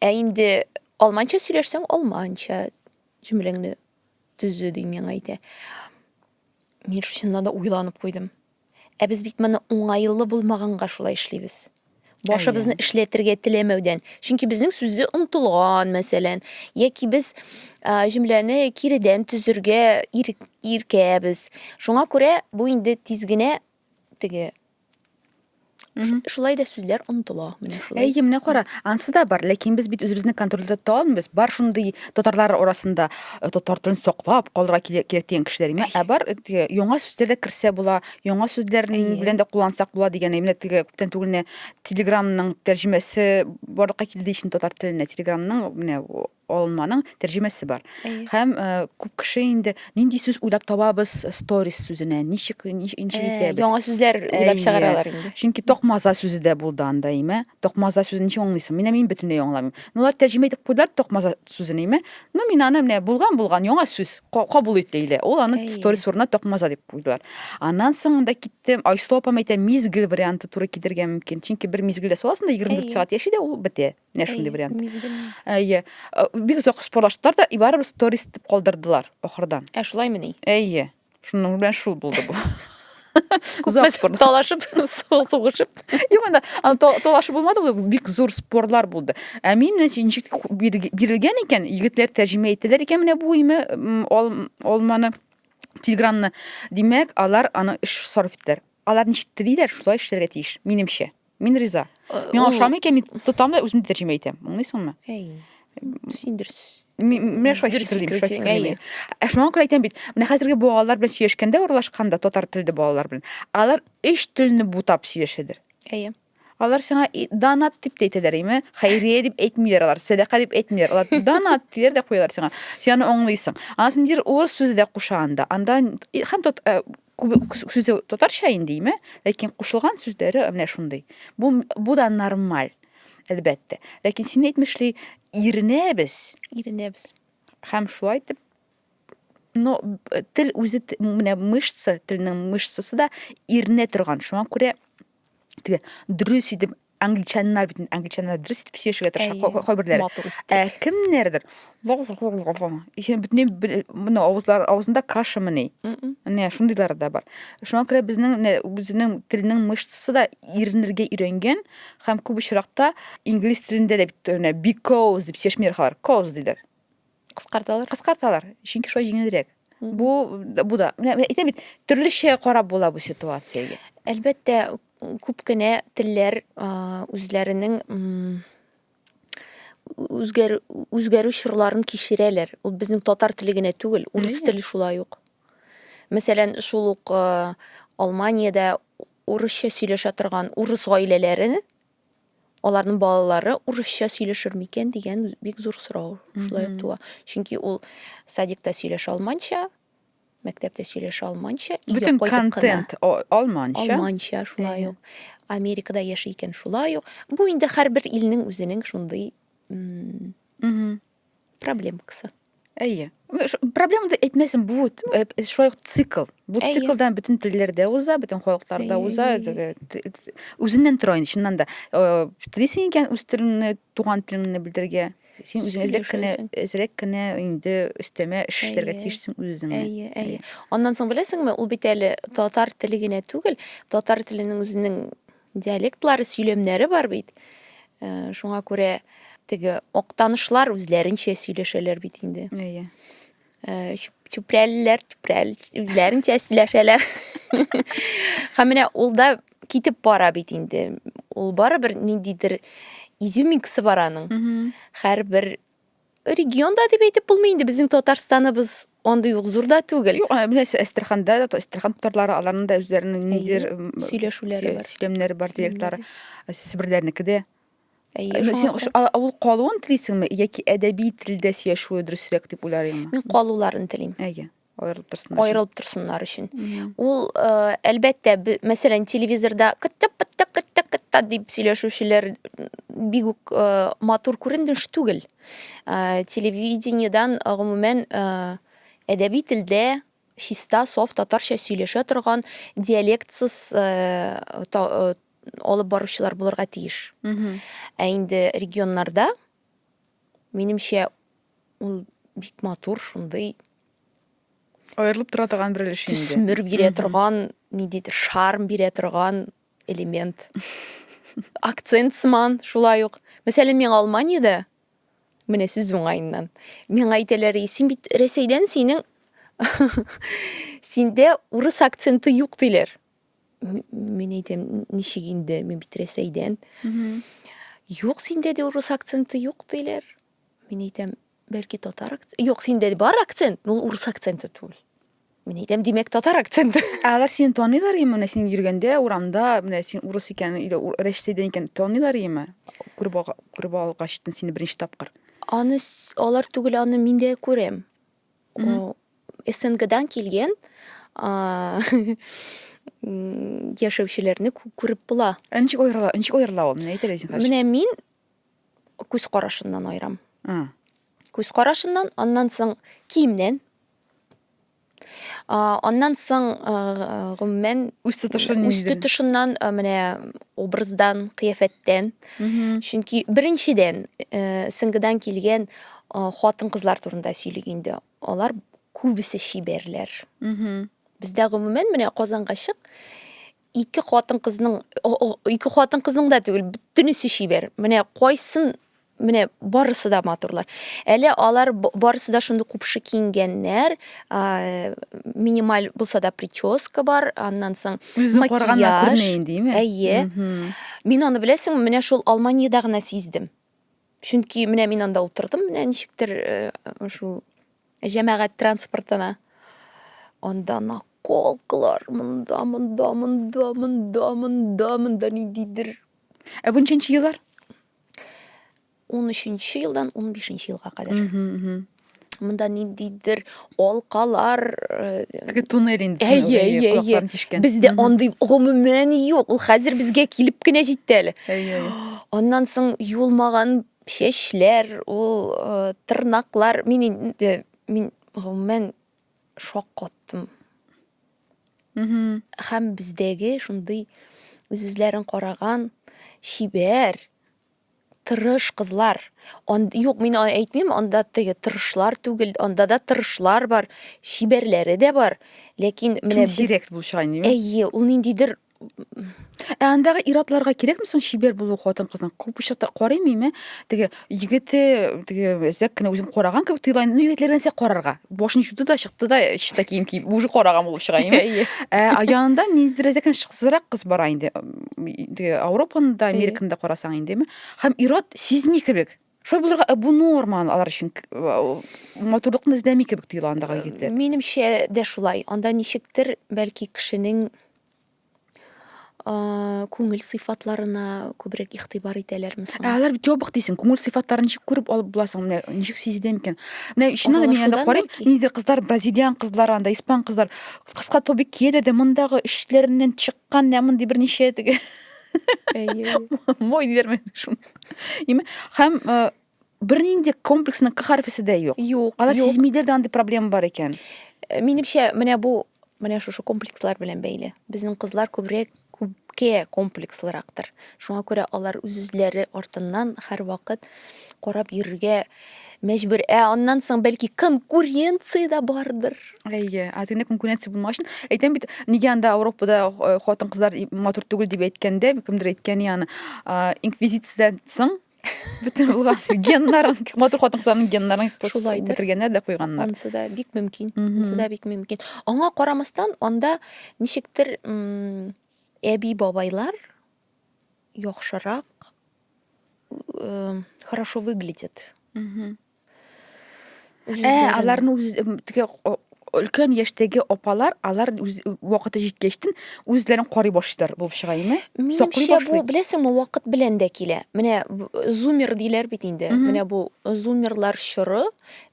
Ә инде алманча сөйләшсәң, алманча җөмләңне төзи ди миңа әйтә. Мин чыннан да уйланып куйдым. Ә без бит моны уңайлы булмаганга шулай эшлибез. Башыбызны эшләтергә теләмәүдән. Чөнки безнең сүзе онтылган, мәсәлән, яки без җөмләне киредән төзергә иркәбез. Шуңа күрә бу инде тиз генә теге Шулай да сүзләр онытыла. Менә шулай. Әйе, менә кара, ансы да бар, ләкин без бит үзебезне контрольдә тота алмыйбыз. Бар шундый татарлар арасында э, татар телен саклап калырга кирәк дигән кешеләр. Менә ә бар э, теге яңа сүзләр дә керсә була, яңа сүзләр белән дә куллансак була дигән. Менә теге күптән түгел Телеграмның тәрҗемәсе барлыкка килде ичен татар теленә. Телеграмның менә Алынманың тәрҗемәсе бар. Әйе. Һәм э, күп кеше инде нинди сүз уйлап табабыз сторис сүзенә, ничек нич- ничек Э, итәбез? Яңа сүзләр уйлап Әйе. чыгаралар инде. Чөнки токмаза сүзе дә булды анда, име? Токмаза сүзен ничек аңлыйсың? Менә мин бөтенләй аңламыйм. Ну, алар тәрҗемә итеп куйдылар токмаза сүзен, име? Ну, мин аны менә булган булган яңа сүз ка- кабул ит диелә. Ул аны Әйе. сторис урынына токмаза дип куйдылар. Аннан соң анда киттем. Айсылу апам әйтә, мизгел варианты туры килергә мөмкин. Чөнки бер мизгелдә саласың да 24 Әйе. сәгать яши дә ул бетә. Менә шундый вариант. Әйе. Э, бик озак спорлаштылар да, и барыбер сторис итеп калдырдылар ахырдан. Ә шулаймы ни? Әйе. Шуның белән шул булды бу. күпме талашып сугышып юк анда аны талашы булмады бул бик зур спорлар булды ә мин менә ничек бирелгән икән егетләр тәрҗемә итәләр икән менә бу име алманы телеграмны димәк алар аны эш сарыф итәләр алар ничек телиләр шулай эшләргә тиеш минемчә Мин риза. Мин ашамый икән, мин тотам да үзем тәрҗемә итәм. Аңлыйсыңмы? Әй. Син дөрес. Менә шулай фикерлим, шулай фикерлим. Ә шуңа күрә әйтәм бит, менә хәзерге балалар белән сөйләшкәндә, урлашканда татар телле балалар белән, алар өч телне бутап сөйләшәдер. Әйе. Алар сиңа донат дип тә әйтәләр, име? Хәйрия дип әйтмиләр алар, сәдака дип әйтмиләр. Алар донат диләр дә куялар сиңа. Син аны аңлыйсың. Анасын дир урыс сүзе дә куша анда. Анда һәм тот э, Сүзе татарча инде име, ләкин кушылган сүзләре менә шундый. Бу бу да нормаль, әлбәттә. Ләкин син әйтмешли, иренәбез. Иренәбез. Һәм шулай итеп но тел үзе менә мышца, телнең мышцасы да иренә торган. Шуңа күрә теге дөрес итеп англичаннар бит англичаннар дөрес итеп сөйләшергә тырыша кайберләре ә кемнәрдер бөтенләй мына авызлар авызында кашамыни менә шундыйлар да бар шуңа күрә безнең үзенең телнең мышцасы да иренергә өйрәнгән һәм күп очракта инглиз телендә дә бит because дип сөйләшмиләр алар cause диләр Кыскарталар. Кыскарталар, чөнки шулай җиңелрәк. Бу бу да. Менә әйтәм бит, төрлечә карап була бу ситуациягә. Әлбәттә, күп кенә телләр үзләренең үзгәр үзгәрү чорларын кичерәләр. Ул безнең татар теле генә түгел, урыс теле шулай ук. Мәсәлән, шул ук Алманиядә урысча сөйләшә торган урыс гаиләләре аларның балалары урысча сөйләшер микән дигән бик зур сорау шулай ук туа. Чөнки ул садикта сөйләшә алманча, мәктәптә сөйләшә алманча, бөтен контент алманча. Алманча шулай ук. Америкада яши икән шулай ук. Бу инде һәрбер илнең үзенең шундый проблема кысы әйе проблема деп әйтмәсен бу э, э, шулай ук цикл бу циклдан бөтен телләрдә уза бөтен халыкларда уза э, үзеннән тора инде чыннан да телисең икән үз телеңне туган телеңне белдерергә син үзең әзрәк кенә әзрәк кенә инде өстәмә эш эшләргә тиешсең үзеңә әйе әйе аннан соң беләсеңме ул бит әле татар теле генә түгел татар теленең үзенең Диалектлары, сөйләмнәре бар бит. Э, шуңа күрә теге октанышлар үзләренчә сөйләшәләр бит инде. Әйе. Э, чүпрәлеләр, чүпрәл үзләренчә сөйләшәләр. Һәм менә ул да китеп бара бит инде. Ул барыбер ниндидер изюминкасы бар аның. Һәрбер Регион да дип әйтеп булмый инде, безнең Татарстаныбыз андый ук зур да түгел. Юк, менә Әстерханда да, Әстерхан татарлары, аларның да үзләренең ниндидер сөйләшүләре бар. Сөйләмнәре бар, диалектлары. Себерләрнеке дә. Әйе, син авыл калуын телисеңме яки әдәби телдә сөйләшүе дөресрәк дип уйларыңмы? Мин калуларын телим. Әйе. аерылып торсыннар аерылып торсыннар өчен ул э, әлбәттә мәсәлән телевизорда кыттык кыттык кыттык кытта дип сөйләшүчеләр бик үк э, матур күрендеш түгел э, телевидениедән гомумән әдәби телдә чиста соф татарча сөйләшә торган диалектсыз алып баручылар булырга тиеш ә инде регионнарда минемчә Ул бик матур, шундый Аерылып тора торган бер өлеш инде. Төсмер бирә торган, ниндидер шарм бирә торган элемент. Акцент сыман, шулай ук. Мәсәлән, мин Алманиядә, менә сүз уңаеннан, миңа әйтәләр, син бит Рәсәйдән, синең синдә урыс акценты юк диләр. Мин әйтәм, ничек инде, мин бит Рәсәйдән. Юк, синдә дә урыс акценты юк диләр. Мин әйтәм, бәлки татар акцент. Юк, синдә бар акцент, но ул урыс акценты түгел. Мин әйтәм, димәк, татар акценты. Ә алар сине таныйлар име? Менә син йөргәндә урамда, менә син урыс икән, или Рәшидән икән таныйлар име? Күреп алга- күреп алгачтын сине беренче тапкыр. Аны с- алар түгел, аны мин дә күрәм. О, СНГдан килгән а, м, яшәүчеләрне кү- күреп була. Ә ничек аерыла, ничек аерыла ул? Менә әйт әле үзең, хәзер. Менә мин күз карашыннан айырам. Mm. Күз карашыннан, аннан соң киемнән. А, аннан соң гомумән үз тотышын үз тотышыннан менә образдан, кыяфәттән. Чөнки беренчедән э, сыңгыдан килгән хатын-кызлар турында сөйлик инде. Алар күбесе чибәрләр. Бездә гомумән менә Казанга чык, ике хатын кызның ике хатын кызның да түгел бөтенесе чибәр менә кайсын менә барысы да матурлар әле алар барысы да шундый купшы киенгәннәр минималь булса да прическа бар аннан соң макияж әйе мин аны беләсең менә шул алманиядә генә сиздем чөнки менә мин анда утырдым менә ничектер шул җәмәгать транспортына анда наколкалар монда монда монда монда монда монда ниндидер ә бу ничәнче еллар он үшенче елдан он бишенче елга кадәр Монда ниндидер алкалар э, теге туннель инде әйе әйе әйе бездә андый гомумән юк ул хәзер безгә килеп кенә җитте әле әйе аннан соң юылмаган чәчләр ул э, тырнаклар мин инде мин гомумән шок каттым һәм бездәге шундый үз үзләрен караган чибәр Тырыш кызлар. Он, юк, мин аны әйтмим, анда теге тырышлар түгел, анда да тырышлар бар, чибәрләре дә бар. Ләкин менә без... Сирәк булып чыга инде. Әйе, ул ниндидер Ә андагы иратларга кирәкме соң чибәр булу хатын-кызның? Күп очракта карыйм мин, ә, теге егете, теге әзәк кенә үзен караган кебек тоела. Ну, егетләр белән карарга. Башын чуды да чыкты да, чиста кием киеп, уже караган булып чыга инде. Ә янында ниндидер әзәк кенә шыксызрак кыз бара инде. Ауропаны да, Американы да карасаң инде, һәм ирод сизми кебек. Шулай булырга э, бу норма алар өчен э, матурлыкны эзләми кебек тоела андагы егетләр. Э, минемчә дә шулай. Анда ничектер бәлки кешенең күңел сыйфатларына күбрәк игътибар итәләрме соң? Алар бит ябык дисең, күңел сыйфатларын ничек күреп алып буласың? Менә ничек сизелә микән? Менә иченә да мин анда карыйм, нидер кызлар, бразилиан кызлар анда, испан кызлар кыска тобик кияләр дә мондагы эчләреннән чык Кан нә мондый берничә теге. Әйе. Мой диләрме шуны. Име? Һәм э, бернинди комплексның к хәрфесе дә юк. Юк. Алар юк. сизмидер дә андый проблема бар икән. Э, Минемчә, менә бу менә шушы комплекслар белән бәйле. Безнең кызлар күбрәк күпкә комплекслырактыр. Шуңа күрә алар үз-үзләре артыннан һәрвакыт карап йөрергә мәҗбүр. Ә аннан соң бәлки конкуренция дә бардыр. Әйе, атыйны конкуренция булмагач, әйтәм бит, нигә анда Европада э, хатын-кызлар матур түгел дип әйткәндә, кемдер әйткән яны, инквизициядән соң бөтен булган геннарын, матур хатын-кызларның геннарын Шулайдыр. бетергәннәр дә куйганнар. Ансы да бик мөмкин. Ансы да бик мөмкин. Аңа карамастан, анда ничектер әби-бабайлар яхшырак э, хорошо выглядит. Мгм. Ә, аларны үз теге өлкән яшьтәге апалар, алар үз вакыты җиткәчтен үзләрен карый башлыйлар булып чыга име? Саклый Минемчә бу, беләсеңме, вакыт белән дә килә. Менә зумер диләр бит инде. Менә бу зумерлар чоры,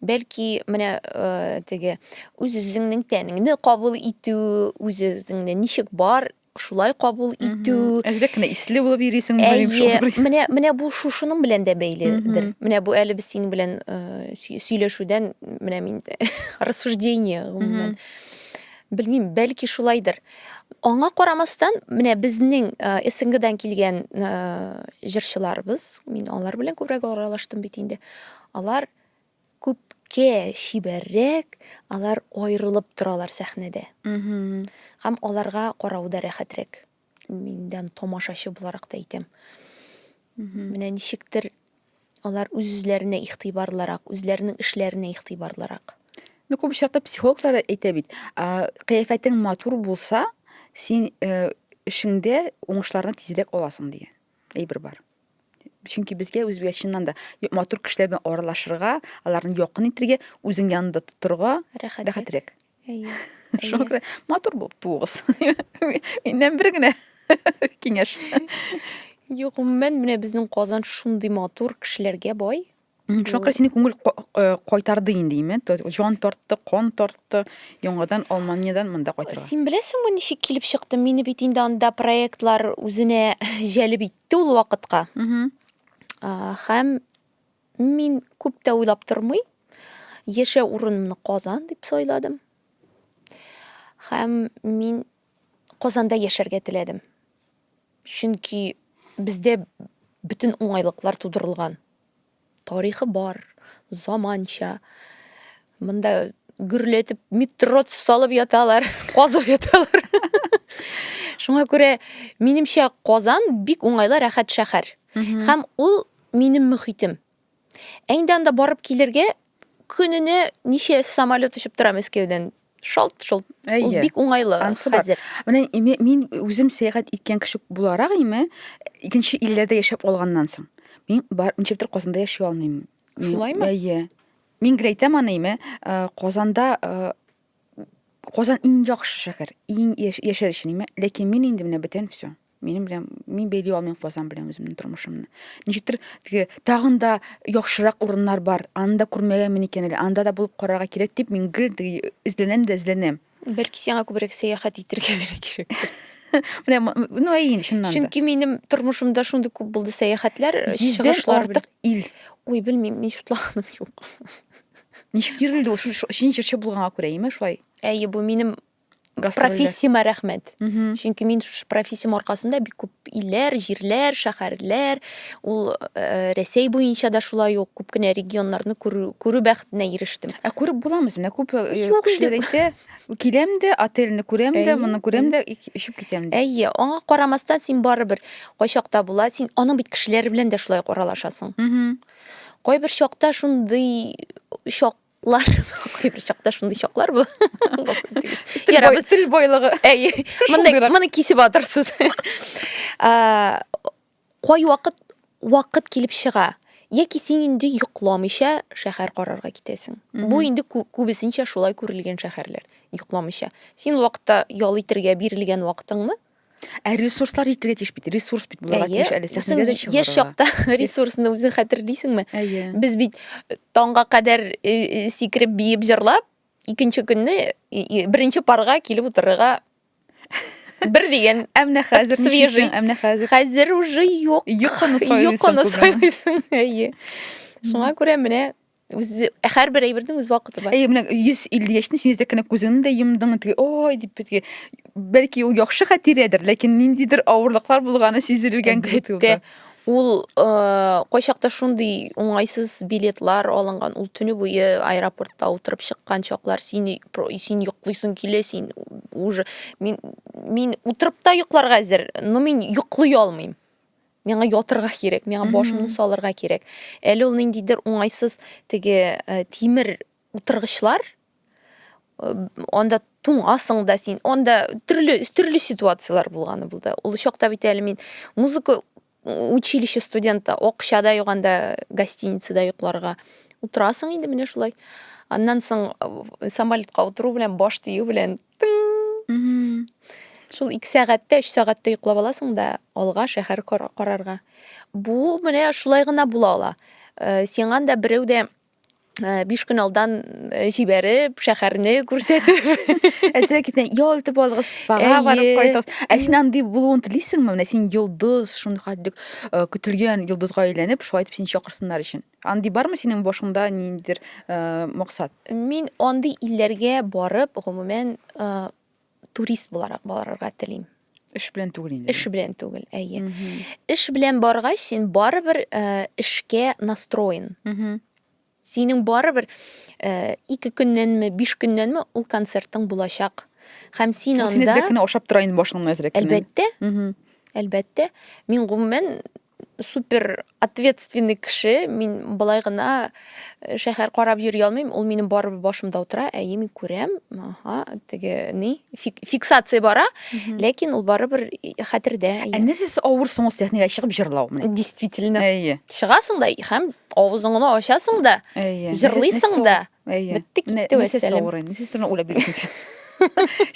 бәлки менә э, теге үз-үзеңнең тәнеңне кабул итү, үз-үзеңне ничек бар шулай кабул итү. Әзрәк кенә исле булып йөрисең, мөгаен шулай. Менә менә бу шушының белән дә бәйледер. Менә бу әле без синең белән э, сөйләшүдән менә мин рассуждение гомумән. Белмим, бәлки шулайдыр. Аңа карамастан, менә безнең э, СНГдан килгән э, җырчыларыбыз, мин алар белән күбрәк аралаштым бит инде. Алар күпкә чибәррәк, алар аерылып торалар сәхнәдә. Һәм аларга карау да рәхәтрәк. Миндән тамашачы буларак та әйтәм. Менә ничектер алар үз-үзләренә игътибарлырак, үзләренең эшләренә игътибарлырак. Ну, күп очракта психологлар әйтә бит, кыяфәтең матур булса, син эшеңдә уңышларны тизрәк аласың дигән. әйбер бар чөнки безгә үзгә чыннан да матур кешеләр белән аралашырга аларны якын итәргә үзең янында тотырга рәхәтрәк әйе шуңа күрә матур булып туыгыз миннән бер генә киңәш юк гомумән менә безнең казан шундый матур кешеләргә бай Шакыр сине күңел э, кайтарды инде име? Җан тартты, кан тартты, яңадан Алманиядән монда кайтырга. Син беләсеңме ничек килеп чыкты? Мине бит инде анда проектлар үзенә җәлеп итте ул вакытка. Һәм мин күп тә уйлап тормый, яшә урынымны Казан дип сайладым. Һәм мин Казанда яшәргә теләдем. Чөнки бездә бөтен уңайлыклар тудырылган. Тарихы бар, заманча. Монда гөрләтеп метро салып яталар, казып яталар. Шуңа күрә, минемчә, Казан бик уңайлы, рәхәт шәһәр. Һәм ул минем мөхитем. Ә инде анда барып килергә көненә ничә самолет очып тора Мәскәүдән? Шалт-шолт. Ул бик уңайлы хәзер. Менә мин үзем сәяхәт иткән кеше буларак име, икенче илләрдә яшәп алганнан соң, мин бар ничек тә Казанда яши алмыйм. Шулаймы? Әйе. Мин гел әйтәм аны име, э, Казанда э, Казан иң яхшы шәһәр, иң яшәр өчен име, ләкин мин инде менә бүтән все. Минем белән мин бәйли алмыйм Фазан белән үземнең тормышымны. Ничектер теге тагын да яхшырак урыннар бар. Аны да күрмәгәнмен икән әле. Анда да булып карарга кирәк дип мин гел теге эзләнәм дә эзләнәм. Бәлки сиңа күбрәк сәяхәт итәргә генә кирәк. Менә м- ну әй инде чыннан да. Чөнки минем тормышымда шундый күп булды сәяхәтләр, Йөздән чыгышлар. артык ил. Ой, белмим, мин шутлаганым юк. Ничек йөрелде ул шул шул- шин җырчы булганга күрә, име шулай? Әйе, бу минем профессияма рәхмәт чөнки мин шушы профессиям аркасында бик күп илләр җирләр шәһәрләр ул э, рәсәй буенча да шулай ук күп кенә регионнарны күрү бәхетенә ирештем ә күреп буламыз менә күп э, кешеләр әйтә киләм дә отельне күрәм дә моны күрәм дә очып китәм дә әйе аңа карамастан син барыбер кайчакта була син аның бит кешеләре белән дә шулай аралашасың кайбер чакта шундый чак Лар кайбер чакта шундый чаклар бу. Ярабыз тел байлыгы. Әй, моны моны кисеп атырсыз. Кай вакыт вакыт килеп чыга? Яки син инде йокламыйча шәһәр карарга китәсең. Бу инде күбесенчә шулай күрелгән шәһәрләр, йокламыйча. Син вакытта ял итергә бирелгән вакытыңны Ә ресурслар җитәргә тиеш бит. Ресурс бит булырга Әйе, тиеш әле. син Сәхнәгә дә чыгарга. яшь чакта ресурсны үзең хәтерлисеңме? Әйе. Без бит э, таңга кадәр э, э, сикереп, биеп, җырлап, икенче көнне э, э, беренче парга килеп утырырга бер дигән Ә менә хәзер Свежий. ничисең? Ә менә хәзер хәзер уже юк. йокыны сайлыйсың. Йокыны кызым. сайлыйсың, әйе. Шуңа күрә менә үзе һәрбер әйбернең үз вакыты бар. Әйе, менә 150 яшьне син әзәккәнә күзеңне дә йомдың, теге ой дип бетге. Бәлки ул яхшы хатирәдер, ләкин ниндидер авырлыклар булганы сизелгән кебек булды. Ул кайчакта шундый уңайсыз билетлар алынган, ул төне буе аэропортта утырып чыккан чаклар, син син йоклыйсың килә, син уже мин мин утырып та йокларга әзер, но мин йоклый алмыйм. миңа ятырга кирәк, миңа башымны салырга кирәк. Әле ул ниндидер уңайсыз теге э, тимер утыргычлар, э, анда туңасың да син, анда төрле, төрле ситуациялар булганы булды. Ул чакта бит әле мин музыка училище студенты, акчада юганда гостиницада йокларга утырасың инде менә шулай. Аннан соң э, самолетка утыру белән баш тию белән Шул 2 сәгатьтә, 3 сәгатьтә йоклап аласың да алга шәһәр карарга. Бу менә шулай гына була ала. Э, сиңа да берәү дә э, биш көн алдан э, җибәреп, шәһәрне күрсәтеп. Ә сиңа китә, ял итеп алгыз, спага барып кайтыгыз. Ә син андый булуын телисеңме? Менә син йолдыз, шундый хәтлек көтелгән йолдызга әйләнеп, шулай итеп син чакырсыннар өчен. Андый бармы синең башыңда ниндидер э, максат? Мин андый илләргә барып, гомумән, э, турист буларак барырга телим. Эш белән түгел инде. Эш белән түгел, әйе. Эш белән баргач, син барыбер э, эшкә настроен. Мгм. Синең барыбер э, ике көннәнме, биш көннәнме ул концертың булачак. Һәм син Шул син анда, әзрәк кенә ашап тора инде башыңны әзрәк кенә. әлбәттә, Мгм. әлбәттә, мин гомумән супер ответственный кеше, мин былай гына э, шәһәр карап йөри алмыйм, ул минем барыбер башымда утыра, әйе, мин күрәм, аха, теге ни, фик, фиксация бара, ләкин ул барыбер и- хәтердә. Ә әйе. нәрсәсе авыр соң ул сәхнәгә чыгып җырлау менә? Действительно. Әйе, Чыгасың да һәм авызыңны ачасың да, әйе. җырлыйсың да. Әйе. Бетте китте Нәсел вәссәләм. савыры. Нәсел сорына уйлап бирәсең.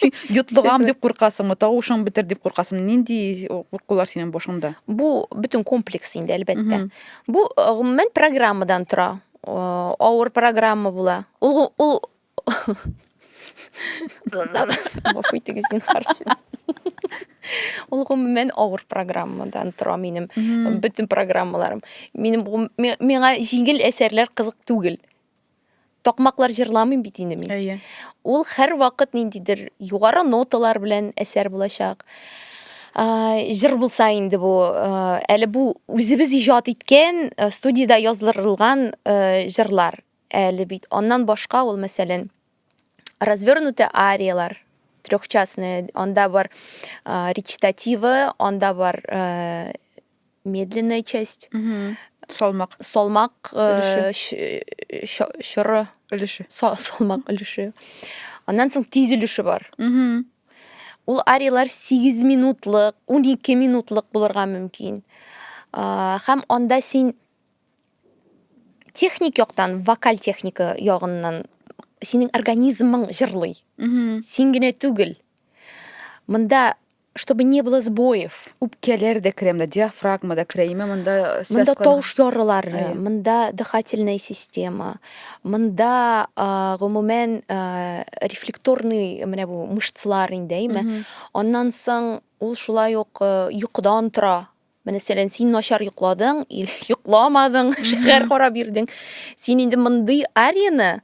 Син йотлыгам дип куркасыңмы, тавышың бетер дип куркасыңмы? Нинди куркулар синең башыңда? Бу бөтен комплекс инде, әлбәттә. Бу гомумән программадан тора. Авыр программа була. Ул ул Гафу итегез, зинһар. Ул гомумән авыр программадан тора минем бөтен программаларым. Минем миңа җиңел әсәрләр кызык түгел. такмаклар җырламыйм бит инде мин. Әйе. Ул һәрвакыт ниндидер югары ноталар белән әсәр булачак. Җыр булса инде бу, әле бу үзебез иҗат иткән, студиядә яздырылган җырлар әле бит. Аннан башка ул, мәсәлән, развернутые ариялар, трехчастные, анда бар речитативы, анда бар медленная часть, салмак, салмак э, чоры өлеше, салмак өлеше. Аннан соң тиз өлеше бар. Ул ариялар 8 минутлык, 12 минутлык булырга мөмкин. Хәм анда син техник яктан, вокаль техника ягыннан синең организмың җырлый. Син генә түгел. Монда чтобы не было сбоев. Үпкәләр дә керә монда, диафрагма да керә, имә монда связка. Монда тавыш ярылар, монда дыхательная система, монда гомумән рефлекторный менә бу мышцалар инде, әйме. Аннан соң ул шулай ук йокыдан тора. Мәсәлән, син начар йокладың, йокламадың, шәһәр карап йөрдең. Син инде мондый арияне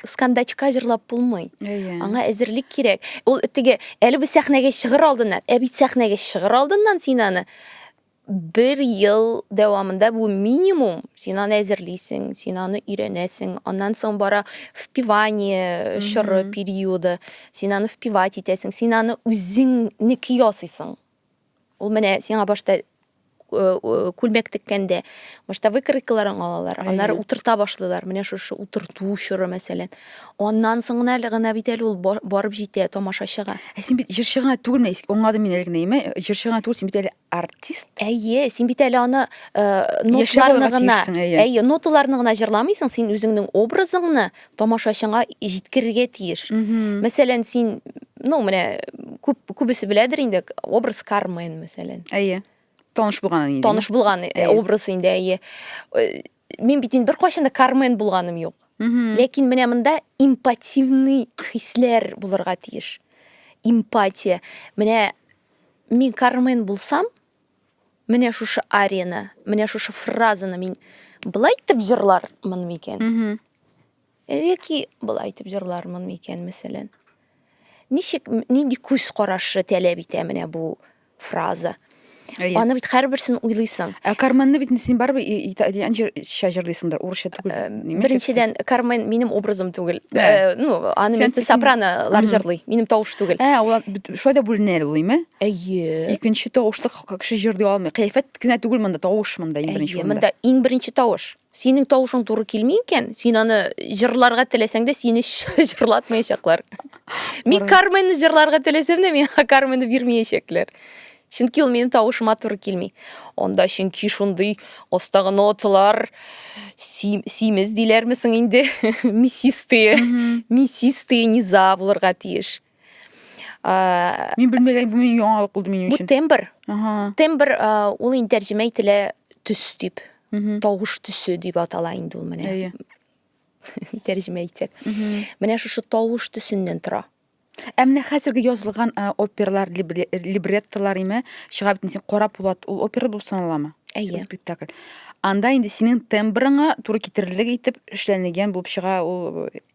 скандачка җырлап булмый. Әйе. Аңа әзерлек кирәк. Ул теге әле бу сәхнәгә чыгыр алдыннан, ә бит сәхнәгә чыгыр алдыннан син аны бер ел дәвамында бу минимум син аны әзерлисең, син аны өйрәнәсең, аннан соң бара впивание чоры периоды, син аны впивать итәсең, син аны үзеңнеке ясыйсың. Ул менә сиңа башта күлмәк теккәндә башта выкройкаларын алалар, аннары утырта башлыйлар. Менә шушы утырту чоры, мәсәлән. Аннан соң гына әле гына бит әле ул барып җитә тамашачыга. Ә син бит җырчы гына түгел, мә, аңладым мин әле генә, җырчы гына түгел, син бит әле артист. Әйе, син бит әле аны ноталарны гына, әйе, ноталарны гына җырламыйсың, син үзеңнең образыңны тамашачыңа җиткерергә тиеш. Мәсәлән, син, ну, менә күп күбесе беләдер инде, образ Кармен, мәсәлән. Әйе. Таныш булган инде. Таныш булган э, образ инде, әйе. Э, мин бит инде беркайчан да Кармен булганым юк. Ләкин менә монда импативный хисләр булырга тиеш. Импатия. Менә мин Кармен булсам, Менә шушы арияны, менә шушы фразаны мин былай итеп җырлармын микән? Яки былай итеп җырлармын микән, мәсәлән? Ничек, нинди күз карашы таләп итә менә бу фраза? Аны бит һәрберсен уйлыйсың. Ә Карменны бит син барыбер итальянча җырлыйсыңдыр, урысча түгел. Беренчедән, Кармен минем образым түгел. Ну, аны мисс сопранолар җырлый, минем тавыш түгел. Ә, ул шулай да бүленә әле ул име? Әйе. Икенче тавышлы кеше җырлый алмый. Кыяфәт кенә түгел монда, тавыш монда иң беренче урында. Монда иң беренче тавыш. Синең тавышың туры килми икән, син аны җырларга теләсәң дә, сине җырлатмаячаклар. Мин Карменны җырларга теләсәм дә, миңа Карменны бирмәячәкләр. Чөнки ул минем тавышыма туры килми. Анда чөнки шундый астагы ноталар симез диләрме соң инде, мясистые, мясистые низа булырга тиеш. Ә, Мин белмәгән бу мин яңалык булды минем бу өчен. тембр. Ага. Тембр ә, ул инде тәрҗемә ителә төс дип. Мгм. Тавыш төсе дип атала инде ул менә. Әйе. Тәрҗемә итсәк. Мгм. Менә шушы тавыш төсеннән тора. Ә менә хәзерге язылган ә, опералар, либре- либреттолар име, чыга бит син Кара Пулат, ул опера булып саналамы? Әйе. Спектакль. Анда инде синең тембрыңа туры китерерлек итеп эшләнелгән булып чыга ул э,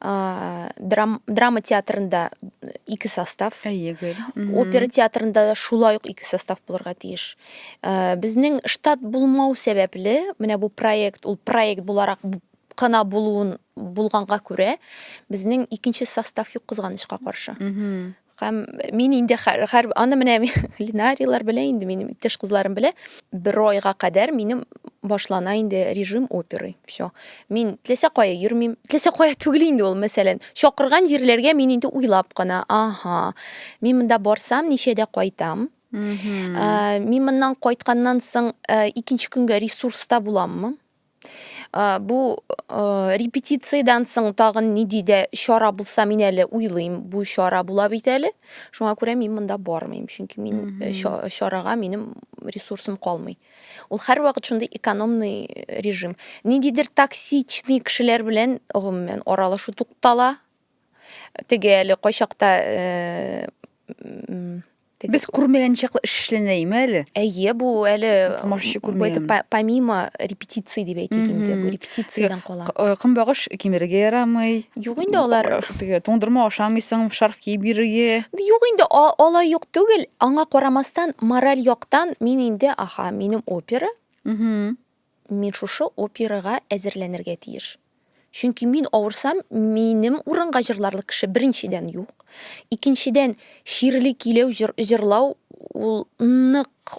ә, драм, драма театрында ике состав әйегел опера театрында да шулай ук ике состав булырга тиеш ә, безнең штат булмау сәбәпле менә бу проект ул проект буларак кына булуын булганга күрә безнең икенче состав юк кызганычка каршы Һәм мин инде хәр аны менә Линарияләр белә инде, минем иптәш кызларым белә. Бер айга кадәр минем башлана инде режим оперы. Всё. Мин теләсә кая йөрмим. Теләсә кая түгел инде ул, мәсәлән, чакырган җирләргә мин инде уйлап кына, ага, мин монда барсам, ничәдә кайтам? Мин моннан кайтканнан соң, икенче көнгә ресурста буламмы? Э, бу э, репетициядән соң тагын ниди дә чара булса мин әле уйлыйм бу чара була бит әле шуңа күрә мин монда бармыйм чөнки мин э, чарага минем ресурсым калмый ул һәрвакыт шундый экономный режим ниндидер токсичный кешеләр белән гомумән аралашу туктала теге әле кайчакта Теге... Без күрмәгән чаклы эш эшләнә име әле? Әйе, бу әле тамашачы күрмәгән. Бу помимо репетиции дип әйтик инде, бу репетициядән кала. Э, көнбагыш кимерергә ярамый. Юк инде алар. Э, теге туңдырма ашамыйсың, шарф киеп йөрергә. Юк инде алай юк түгел. Аңа карамастан, мораль яктан мин инде, аха, минем опера. Угу. Мин шушы операга әзерләнергә тиеш. Чөнки мин авырсам, минем урынга җырларлык кеше, беренчедән, юк. Икенчедән, чирле киләү җырлау ул нык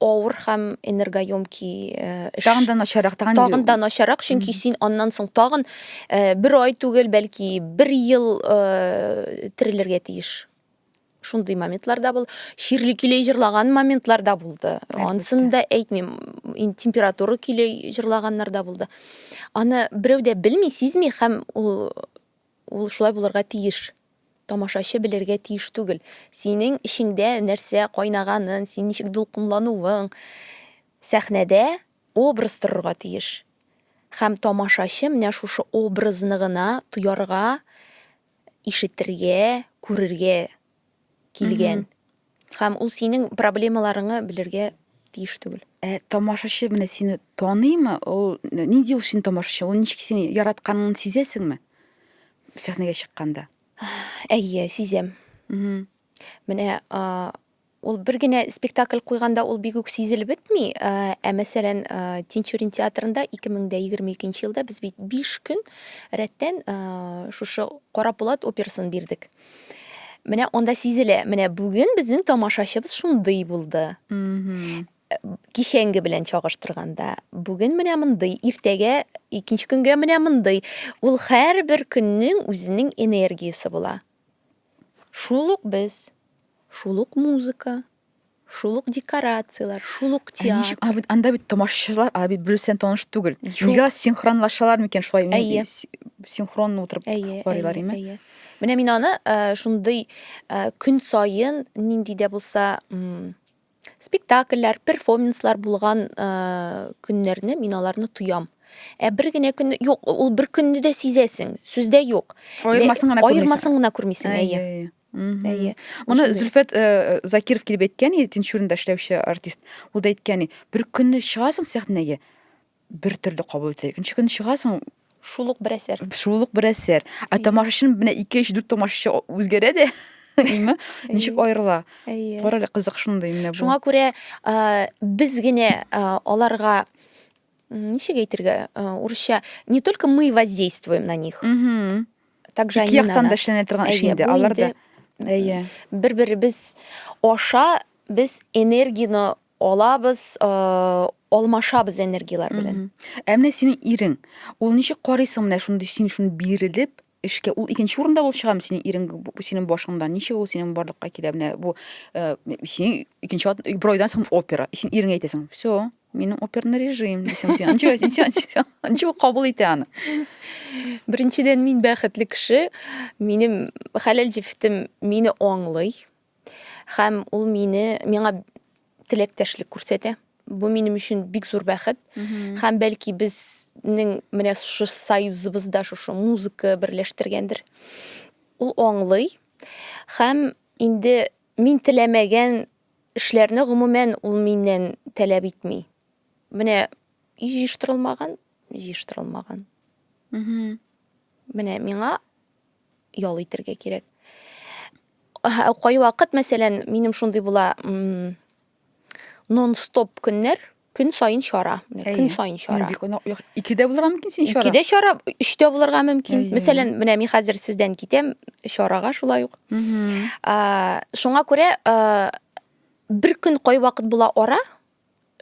авыр һәм энергоемки эш. Тагын да начарак, тагын, тагын да начарак, чөнки син аннан соң тагын бер ай түгел, бәлки бер ел терелергә тиеш. шундый моментлар да булды чирле көйләй җырлаган моментлар да булды анысын да әйтмим температура көйләй җырлаганнар да булды аны берәү дә белми сизми һәм ул ул шулай булырга тиеш тамашачы белергә тиеш түгел синең эчеңдә нәрсә кайнаганын син ничек дулкынлануың сәхнәдә образ торырга тиеш һәм тамашачы менә шушы образны гына тоярга ишетергә, күрергә килгән. Һәм ул синең проблемаларыңны белергә тиеш түгел. Ә тамашачы менә сине таныймы? Ул нинди ул синең тамашачы? Ул ничек сине яратканын сизәсеңме? Сәхнәгә чыкканда. Әйе, сизәм. Менә Ул бер генә спектакль куйганда ул бик үк сизелеп бетми. Ә мәсәлән, Тинчурин театрында 2022 елда без бит 5 көн рәттән шушы Кара Пулат операсын бирдек. Менә анда сизелә, менә бүген безнең тамашачыбыз шундый булды. Кичәнге белән чагыштырганда, бүген менә мондый, иртәгә, икенче көнгә менә мондый. Ул һәрбер көннең үзенең энергиясе була. Шул ук без, шул ук музыка, шул ук декорацияләр, шул ук театр. Ә ничек, ә анда бит тамашачылар, а бит берсен таныш түгел. Нигә синхронлашалар микән шулай? Әйе. Синхронно утырып карыйлар име? Әйе. Менә мин аны э, шундый э, көн саен нинди дә булса спектакльләр перформанслар булган көннәрне мин аларны тоям ә бер генә көнне юк ул бер көнне дә сизәсең сүздә юк аермасын гына аермасын гына күрмисең әйе әйе моны зөлфәт э, закиров килеп әйткән тинчуринда эшләүче артист ул да әйткән бер көнне чыгасың сәхнәгә бер төрле кабул итә. Икенче көн чыгасың, шул ук бер әсәр. Шул ук бер әсәр. Ә тамашачы менә 2 3 4 тамашачы үзгәрә дә. Әйме? Ничек аерыла? Әйе. Карале кызык шундый менә бу. Шуңа күрә без генә аларга ничек әйтергә, урысча не только мы воздействуем на них. Угу. Также они на нас. Яктан торган эш инде, алар да. Әйе. Бер-беребез аша без энергияне Алабыз, алмашабыз энергияләр белән. Ә менә синең ирең, ул ничек карыйсың менә шундый син шундый бирелеп эшкә? Ул икенче урында булып чыгамы синең ирең синең башыңда? Ничек ул синең барлыкка килә? Менә бу синең икенче бер айдан соң опера. Син иреңә әйтәсең, все, минем оперный режим дисең син анча анча анча ул кабул итә аны беренчедән мин бәхетле кеше минем хәләл җефетем мине аңлый Һәм ул мине, миңа теләктәшлек күрсәтә. Бу минем өчен бик зур бәхет. Һәм бәлки безнең менә шушы союзыбызда шушы музыка берләштергәндер. Ул аңлый. Һәм инде мин теләмәгән эшләрне гомумән ул миннән таләп итми. Менә и җыештырылмаган, җыештырылмаган. Менә миңа ял итергә кирәк. Кайвакыт, мәсәлән, минем шундый була, нон-стоп көннәр, көн саен чара, көн саен чара. Бик онык. Икедә булырга мөмкин син чара. Икедә чара, өчтә булырга мөмкин. Мәсәлән, менә мин хәзер сездән китәм чарага шулай ук. Шуңа күрә бер көн кайвакыт була ара,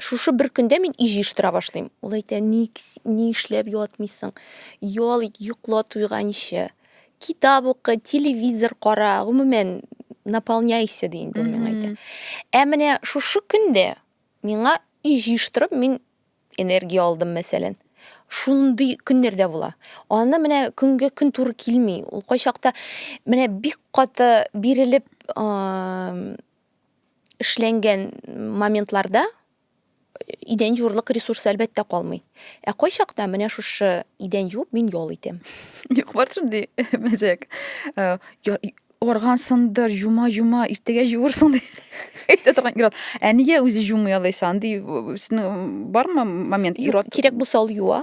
Шушы бер көндә мин өй җыештыра башлыйм. Ул әйтә, ник, ни эшләп ятмыйсың? Ял ит, йокла туйганчы. Китап укы, телевизор кара, гомумән, наполняйся, ди инде ул миңа әйтә. Ә менә шушы көндә миңа өй җыештырып, мин энергия алдым, мәсәлән. Шундый көннәр дә була. Аны менә көнгә көн туры килми. Ул кайчакта менә бик каты бирелеп, эшләнгән моментларда идән юрлык ресурсы әлбәттә калмый. Ә кайчакта менә шушы идән юып мин ял итәм. Юк бар шундый мәзәк. Э, Арган сындыр, жума жума, иртәгә җуырсың ди. Әйтә торган ират. Ә нигә үзе жумый алайса? Андый сезнең бармы момент ират? Кирәк булса ул юа.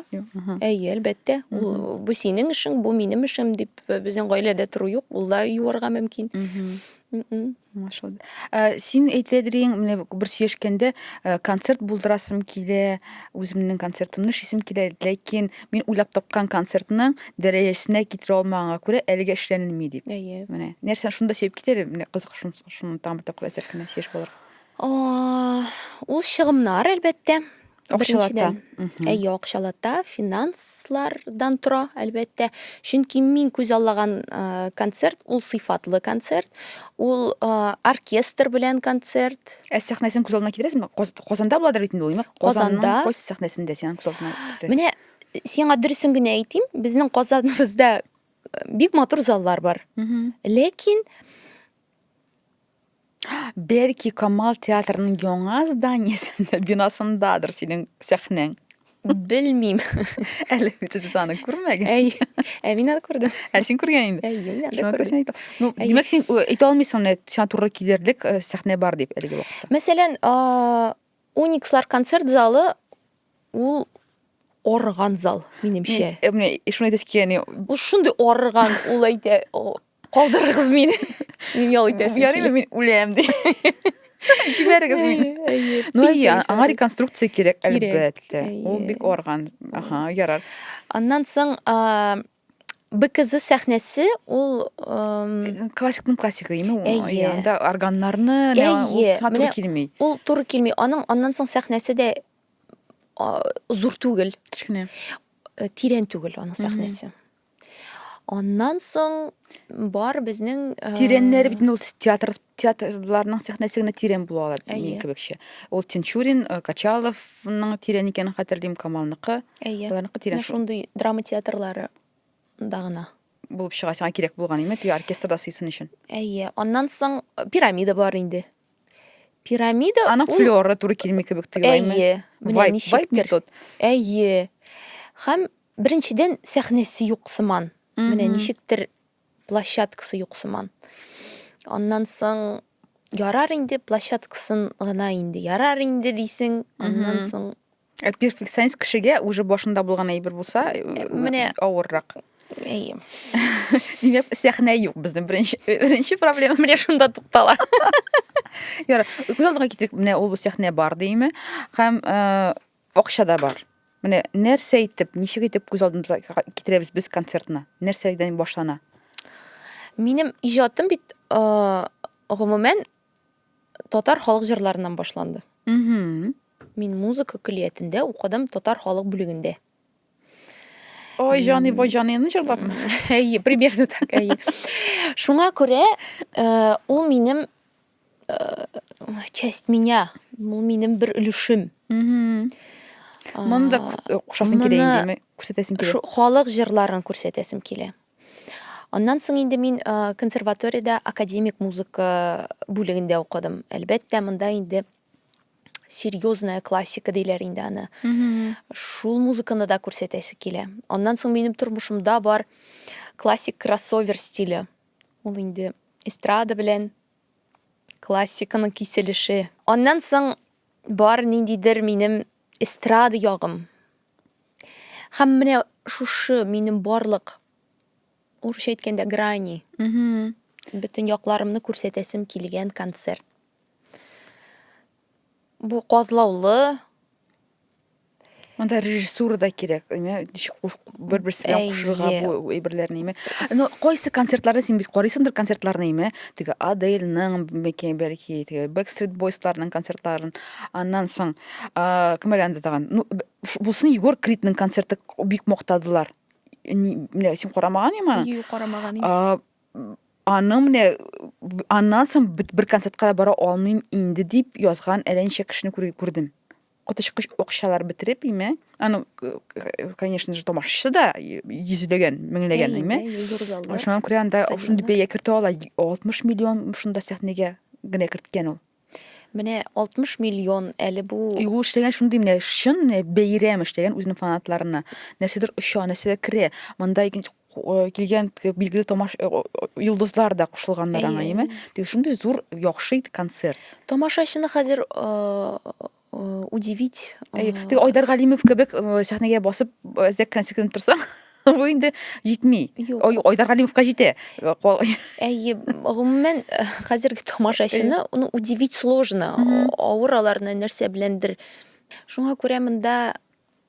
Әйе, әлбәттә. Ул бу синең эшең, бу минем эшем дип э, безнең гаиләдә тору юк. Ул да юарга мөмкин. Машалла. Ә, син әйтәдерең, менә бер сөйләшкәндә ә, концерт булдырасым килә, үземнең концертымны эшлисем килә, ләкин мин уйлап тапкан концертның дәрәҗәсенә китерә алмаганга күрә, әлегә эшләнелми дип. Әйе. Менә нәрсә шунда сөйләп китә әле, менә кызык шун шуны тагын бер тапкыр әйтсәк кенә сөйләшеп алырга. Ул чыгымнар, әлбәттә. Акчалата. Әйе, акчалата, финанслардан тора, әлбәттә. Чөнки мин күз аллаган концерт, ул сыйфатлы концерт, ул оркестр белән концерт. Ә сәхнәсен күз алдына китерәсеңме? Казанда буладыр бит инде ул, Казанда. Кайсы сәхнәсендә синең күз алдына китерәсең? Менә сиңа дөресен генә әйтим, безнең Казаныбызда бик матур заллар бар. Ләкин Бәлки Камал театрының яңа зданиесендә, бинасындадыр синең сәхнәң. Белмим. Әле бит без аны күрмәгән. Әй, ә мин аны күрдем. Ә син күргән инде. Әй, мин аны Шуңа күрә син әйтә. Ну, Әйе. димәк, син э, әйтә алмыйсың менә сиңа туры килерлек э, сәхнә бар дип әлеге вакытта. Мәсәлән, а, Уникслар концерт залы ул арыган зал, минемчә. Э, Менә шуны әйтәсе килә, яни, Ул шундый арыган, ул әйтә, о, Калдырыгыз мине. Мин ял итәсем килә. Ярыймы мин үләм ди. Җибәрегез мине. Ну, әйе, аңа реконструкция кирәк, әлбәттә. Ул бик арган. Аха, ярар. Аннан соң БКЗ сәхнәсе ул классикның классигы име ул анда органнарны туры килми ул туры килми аның аннан соң сәхнәсе дә зур түгел кечкенә тирән түгел аның сәхнәсе Аннан соң бар безнең э, Тирәннәре бит инде ул театр театрларның сәхнәсе генә тирән була ала Әйе. минем кебекчә. Ул Тинчурин, э, Качаловның тирән икәнен хәтерлим, Камалныкы. Әйе. Аларныкы тирән Менә шул шундый драма театрлары да гына. булып чыга сиңа кирәк булган име теге оркестрда сыйсын өчен. Әйе. Аннан соң э, пирамида бар инде. Пирамида Аның ул- флёры туры килми кебек тоела име? Әйе. Менә Вайп, вайп не ничектер. тот. Әйе. Һәм Беренчедән, сәхнәсе юк сыман. Менә ничектер площадкасы юк сыман. Аннан соң ярар инде площадкасын гына инде ярар инде дисең, аннан соң Ә перфекционист кешегә уже башында булган әйбер булса, э, э, менә авыррак. Әйе. Димәк, сәхнә юк безнең беренче беренче проблема. Менә шунда туктала. Ярар. Күз алдына китерик, менә ул сәхнә бар димме? Һәм э, Акча да бар. Менә нәрсә итеп, ничек итеп күз алдымызга китерәбез без концертны? Нәрсәдән башлана? Минем иҗатым бит гомумән татар халык җырларыннан башланды. Угу. Мин музыка көллиятендә укыдым татар халык бүлегендә. Ой, җаны, бой җаныны җырлап. Әйе, примерно так, әйе. Шуңа күрә, ул минем часть меня ул минем бер өлешем моны да кушасың килә инде күрсәтәсең килә халык җырларын күрсәтәсем килә аннан соң инде мин консерваториядә академик музыка бүлегендә укыдым әлбәттә монда инде серьезная классика диләр инде аны шул музыканы да күрсәтәсе килә аннан соң минем тормышымда бар классик кроссовер стиле Ул инде эстрада белән классиканың киселеше. Аннан соң бар ниндидер минем эстрада ягым. Һәм менә шушы минем барлык урысча әйткәндә грани. Бөтен якларымны күрсәтәсем килгән концерт. Бу катлаулы. Монда режиссура да кирәк, әйме, ничек бер-берсе белән кушырырга бу әйберләрне, әйме. Ну, кайсы концертларны син бит карыйсыңдыр концертларны, әйме. Теге Адельның, бәлки, бәлки, теге Backstreet Boys-ларның концертларын. Аннан соң, кем әле анда тагын? Ну, бусын Егор Кридның концерты бик мактадылар. Менә син карамаган иман? Юк, карамаган. аны менә аннан соң бер концертка да бара алмыйм инде дип язган әллә ничә кешене күрдем коточкыч акчалар бетереп име аны конечно же тамашачысы да йөзләгән меңләгән име шуңа күрә анда шундый бәя кертә ала алтмыш миллион шунда сәхнәгә генә керткән ул Менә 60 миллион әле бу. И ул эшләгән шундый менә чын менә бәйрәм эшләгән үзенең фанатларына. Нәрсәдер оча, нәрсәдер керә. Монда икенче э, килгән билгеле тамаш э, йолдызлар да кушылганнар аңа, яме? Тик шундый зур яхшы ит концерт. Тамашачыны хәзер э, э, удивить. Э, Теге Айдар Галимов кебек э, сәхнәгә басып әзрәк кенә сикеренеп торсаң, бу инде җитми. Айдар Галимовка җитә. Әйе, гомумән хәзерге тамашачыны ну удивить сложно. Авыр аларны нәрсә беләндер. Шуңа күрә монда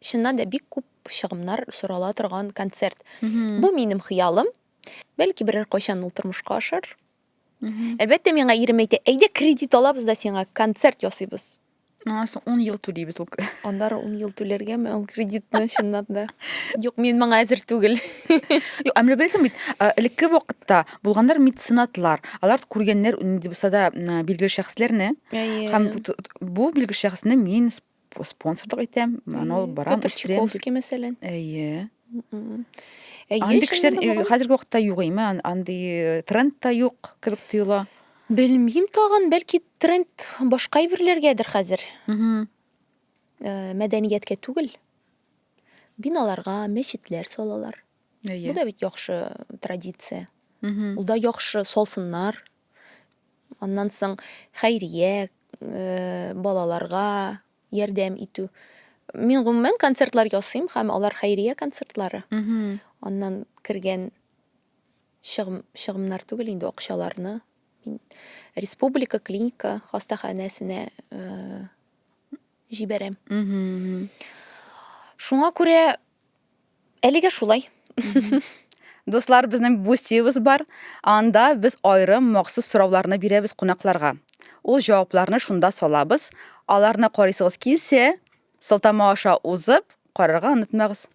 чыннан да бик күп чыгымнар сорала торган концерт. Бу минем хыялым. Бәлки берәр кайчан ул тормышка ашар. Әлбәттә, миңа ирем әйтә, әйдә кредит алабыз да сиңа концерт ясыйбыз. Аңа соң 10 ел түлибез ул. Аннары 10 ел түләргәме ул кредитны чынлап да? Юк, мин моңа әзер түгел. Юк, әмле белсен бит, элекке вакытта булганнар меценатлар. Алар күргәннәр нинди булса да билгеле шәхесләрне. Һәм бу билгеле шәхесне мин спонсорлык итәм аны ул барам петр чуковский мәсәлән әйе андый кешеләр хәзерге вакытта юк име андый тренд та юк кебек тоела белмим тагын бәлки тренд башка әйберләргәдер хәзер мәдәнияткә түгел биналарга мәчетләр салалар Әйе. Бу да бит яхшы традиция. Угу. Ул да яхшы салсыннар. Аннан соң хәйрия, э, балаларга ярдәм итү. Мин гомумән концертлар ясыйм һәм алар хәйрия концертлары. Угу. Аннан кергән чыгым, чыгымнар түгел инде акчаларны мин республика клиника хастаханәсенә э, җибәрәм. Шуңа күрә әлегә шулай. Дуслар, безнең бустиебыз бар. Анда без аерым махсус сорауларны бирәбез кунакларга. Ул җавапларны шунда салабыз. Аларны карыйсыгыз килсә, сылтама аша узып, карарга онытмагыз.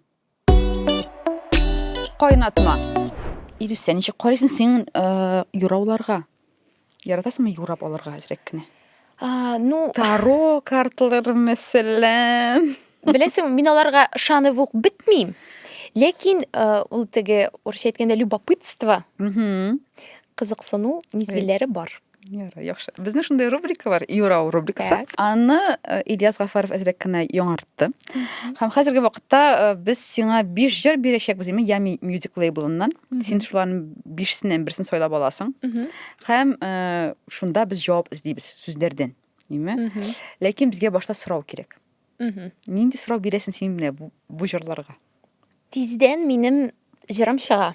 Кайнатма. Ирүсә, ничек карыйсың син э, юрауларга? Яратасыңмы юрап алырга әзрәк кенә? А, ну, Таро карталары мәсәлән. беләсең, мин аларга ышанып ук бетмим. Ләкин э, ул теге урысча әйткәндә любопытство, Мгм. кызыксыну мизгелләре бар. Ярый, яхшы. Безнең шундый рубрика бар, Юрау рубрикасы. Аны э, Ильяс Гафаров әзрәк кенә яңартты. Һәм хәзерге вакытта э, без сиңа 5 җыр бирәчәкбез, яме Ями Music Label-ннан. Син шуларның 5-сеннән берсен сайлап аласың. Һәм э, шунда без җавап эзлибез сүзләрдән, димме? Ләкин безгә башта сорау кирәк. Нинди сорау бирәсең син менә бу, бу җырларга? Тиздән минем җырым чыга.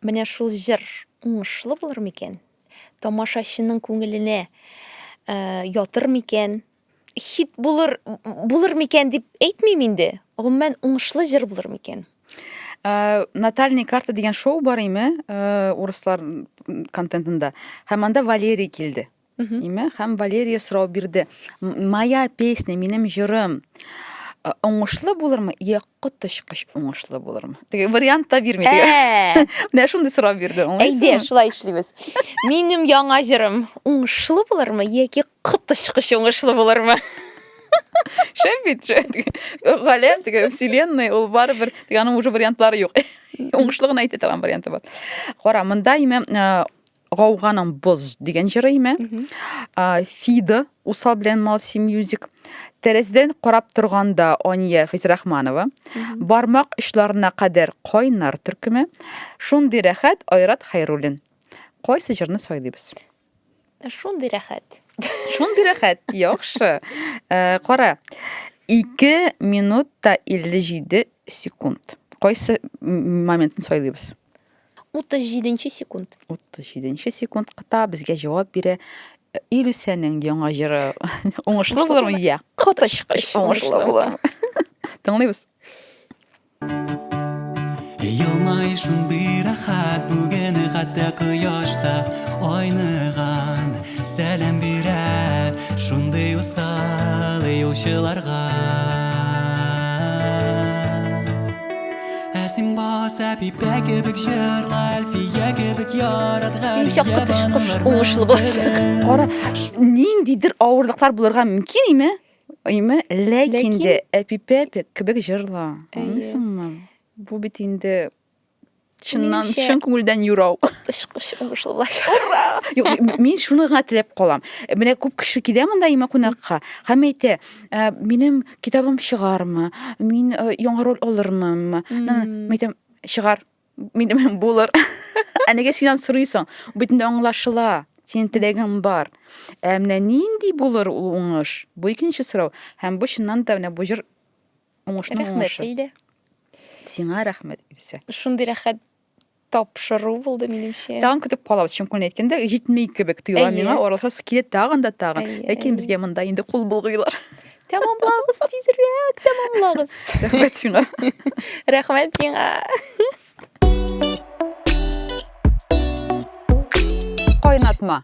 Менә шул җыр уңышлы булыр микән? Тамашачының күңеленә э, ятыр микән? Хит булыр булыр микән дип әйтмим инде. Гомумән уңышлы җыр булыр микән? Э, Натальный карта дигән шоу бар име э, урыслар контентында. Һәм анда Валерий килде. Име? Хәм Валерия сорау бирде. Моя песня, минем җырым уңышлы булырмы, я коточкыч уңышлы булырмы? Теге вариант та бирми теге. Ә. Менә шундый сорау бирде. Әйдә, шулай эшлибез. Минем яңа җырым уңышлы булырмы, яки коточкыч уңышлы булырмы? Шәп бит, шәп. Галәм теге вселенная, ул барыбер, теге аның уже вариантлары юк. Уңышлы гына әйтә торган варианты бар. Кара, монда име Гауганың боз дигән җыры име? Фида Усал белән Малси Мьюзик. Тәрәздән карап торганда Ания Физрахманова. Бармак очларына кадәр кайнар төркеме. Шундый рәхәт Айрат Хайруллин. Кайсы җырны сайлыйбыз? Шундый рәхәт. Шундый рәхәт. Яхшы. Э, кара. 2 минут та 57 секунд. Кайсы моментны сайлыйбыз? 37 нче секунд. 37 нче секундта безгә җавап бирә э, Илүсәнең яңа җыры. Уңышлы булырмы? Йә, коточкыч уңышлы булыр. Тыңлыйбыз. Елмай шундый рәхәт бүген хәтта кояшта айныган сәлам бирә шундый усал юлчыларга Ә син баса пипә кебек җырла, әлфия кебек яратган. Иң чакта төш кош уңышлы булачак. Кара, ниндидер авырлыклар булырга мөмкин име? Име, ләкин дә әпипә кебек җырла. Аңлыйсыңмы? Бу бит инде чыннан чын күңелдән юрау тышкыш уңышлы булачак юк мин шуны гына теләп калам менә күп кеше килә монда имә кунакка һәм әйтә минем китабым чыгармы, мин э, яңа роль алырмынмы? Мин әйтәм, чыгар, минем булыр. Ә нигә синнән сорыйсың? Бөтендә аңлашыла. Синең теләгең бар. Ә менә нинди булыр ул уңыш? Бу икенче сорау. Һәм бу чыннан да менә бу җыр уңышның Рәхмәт, уңышы. Ләйлә. Сиңа рәхмәт, Илсә. Шундый рәхәт тапшыру булды минемчә. Тагын көтеп калабыз, чын күңелен әйткәндә, җитми кебек тоела миңа, аралашасы килә тагын да тагын. Ләкин безгә монда инде кул булгыйлар. Тәмамлагыз тизрәк, тәмамлагыз. Рәхмәт сиңа. Рәхмәт сиңа. Кайнатма.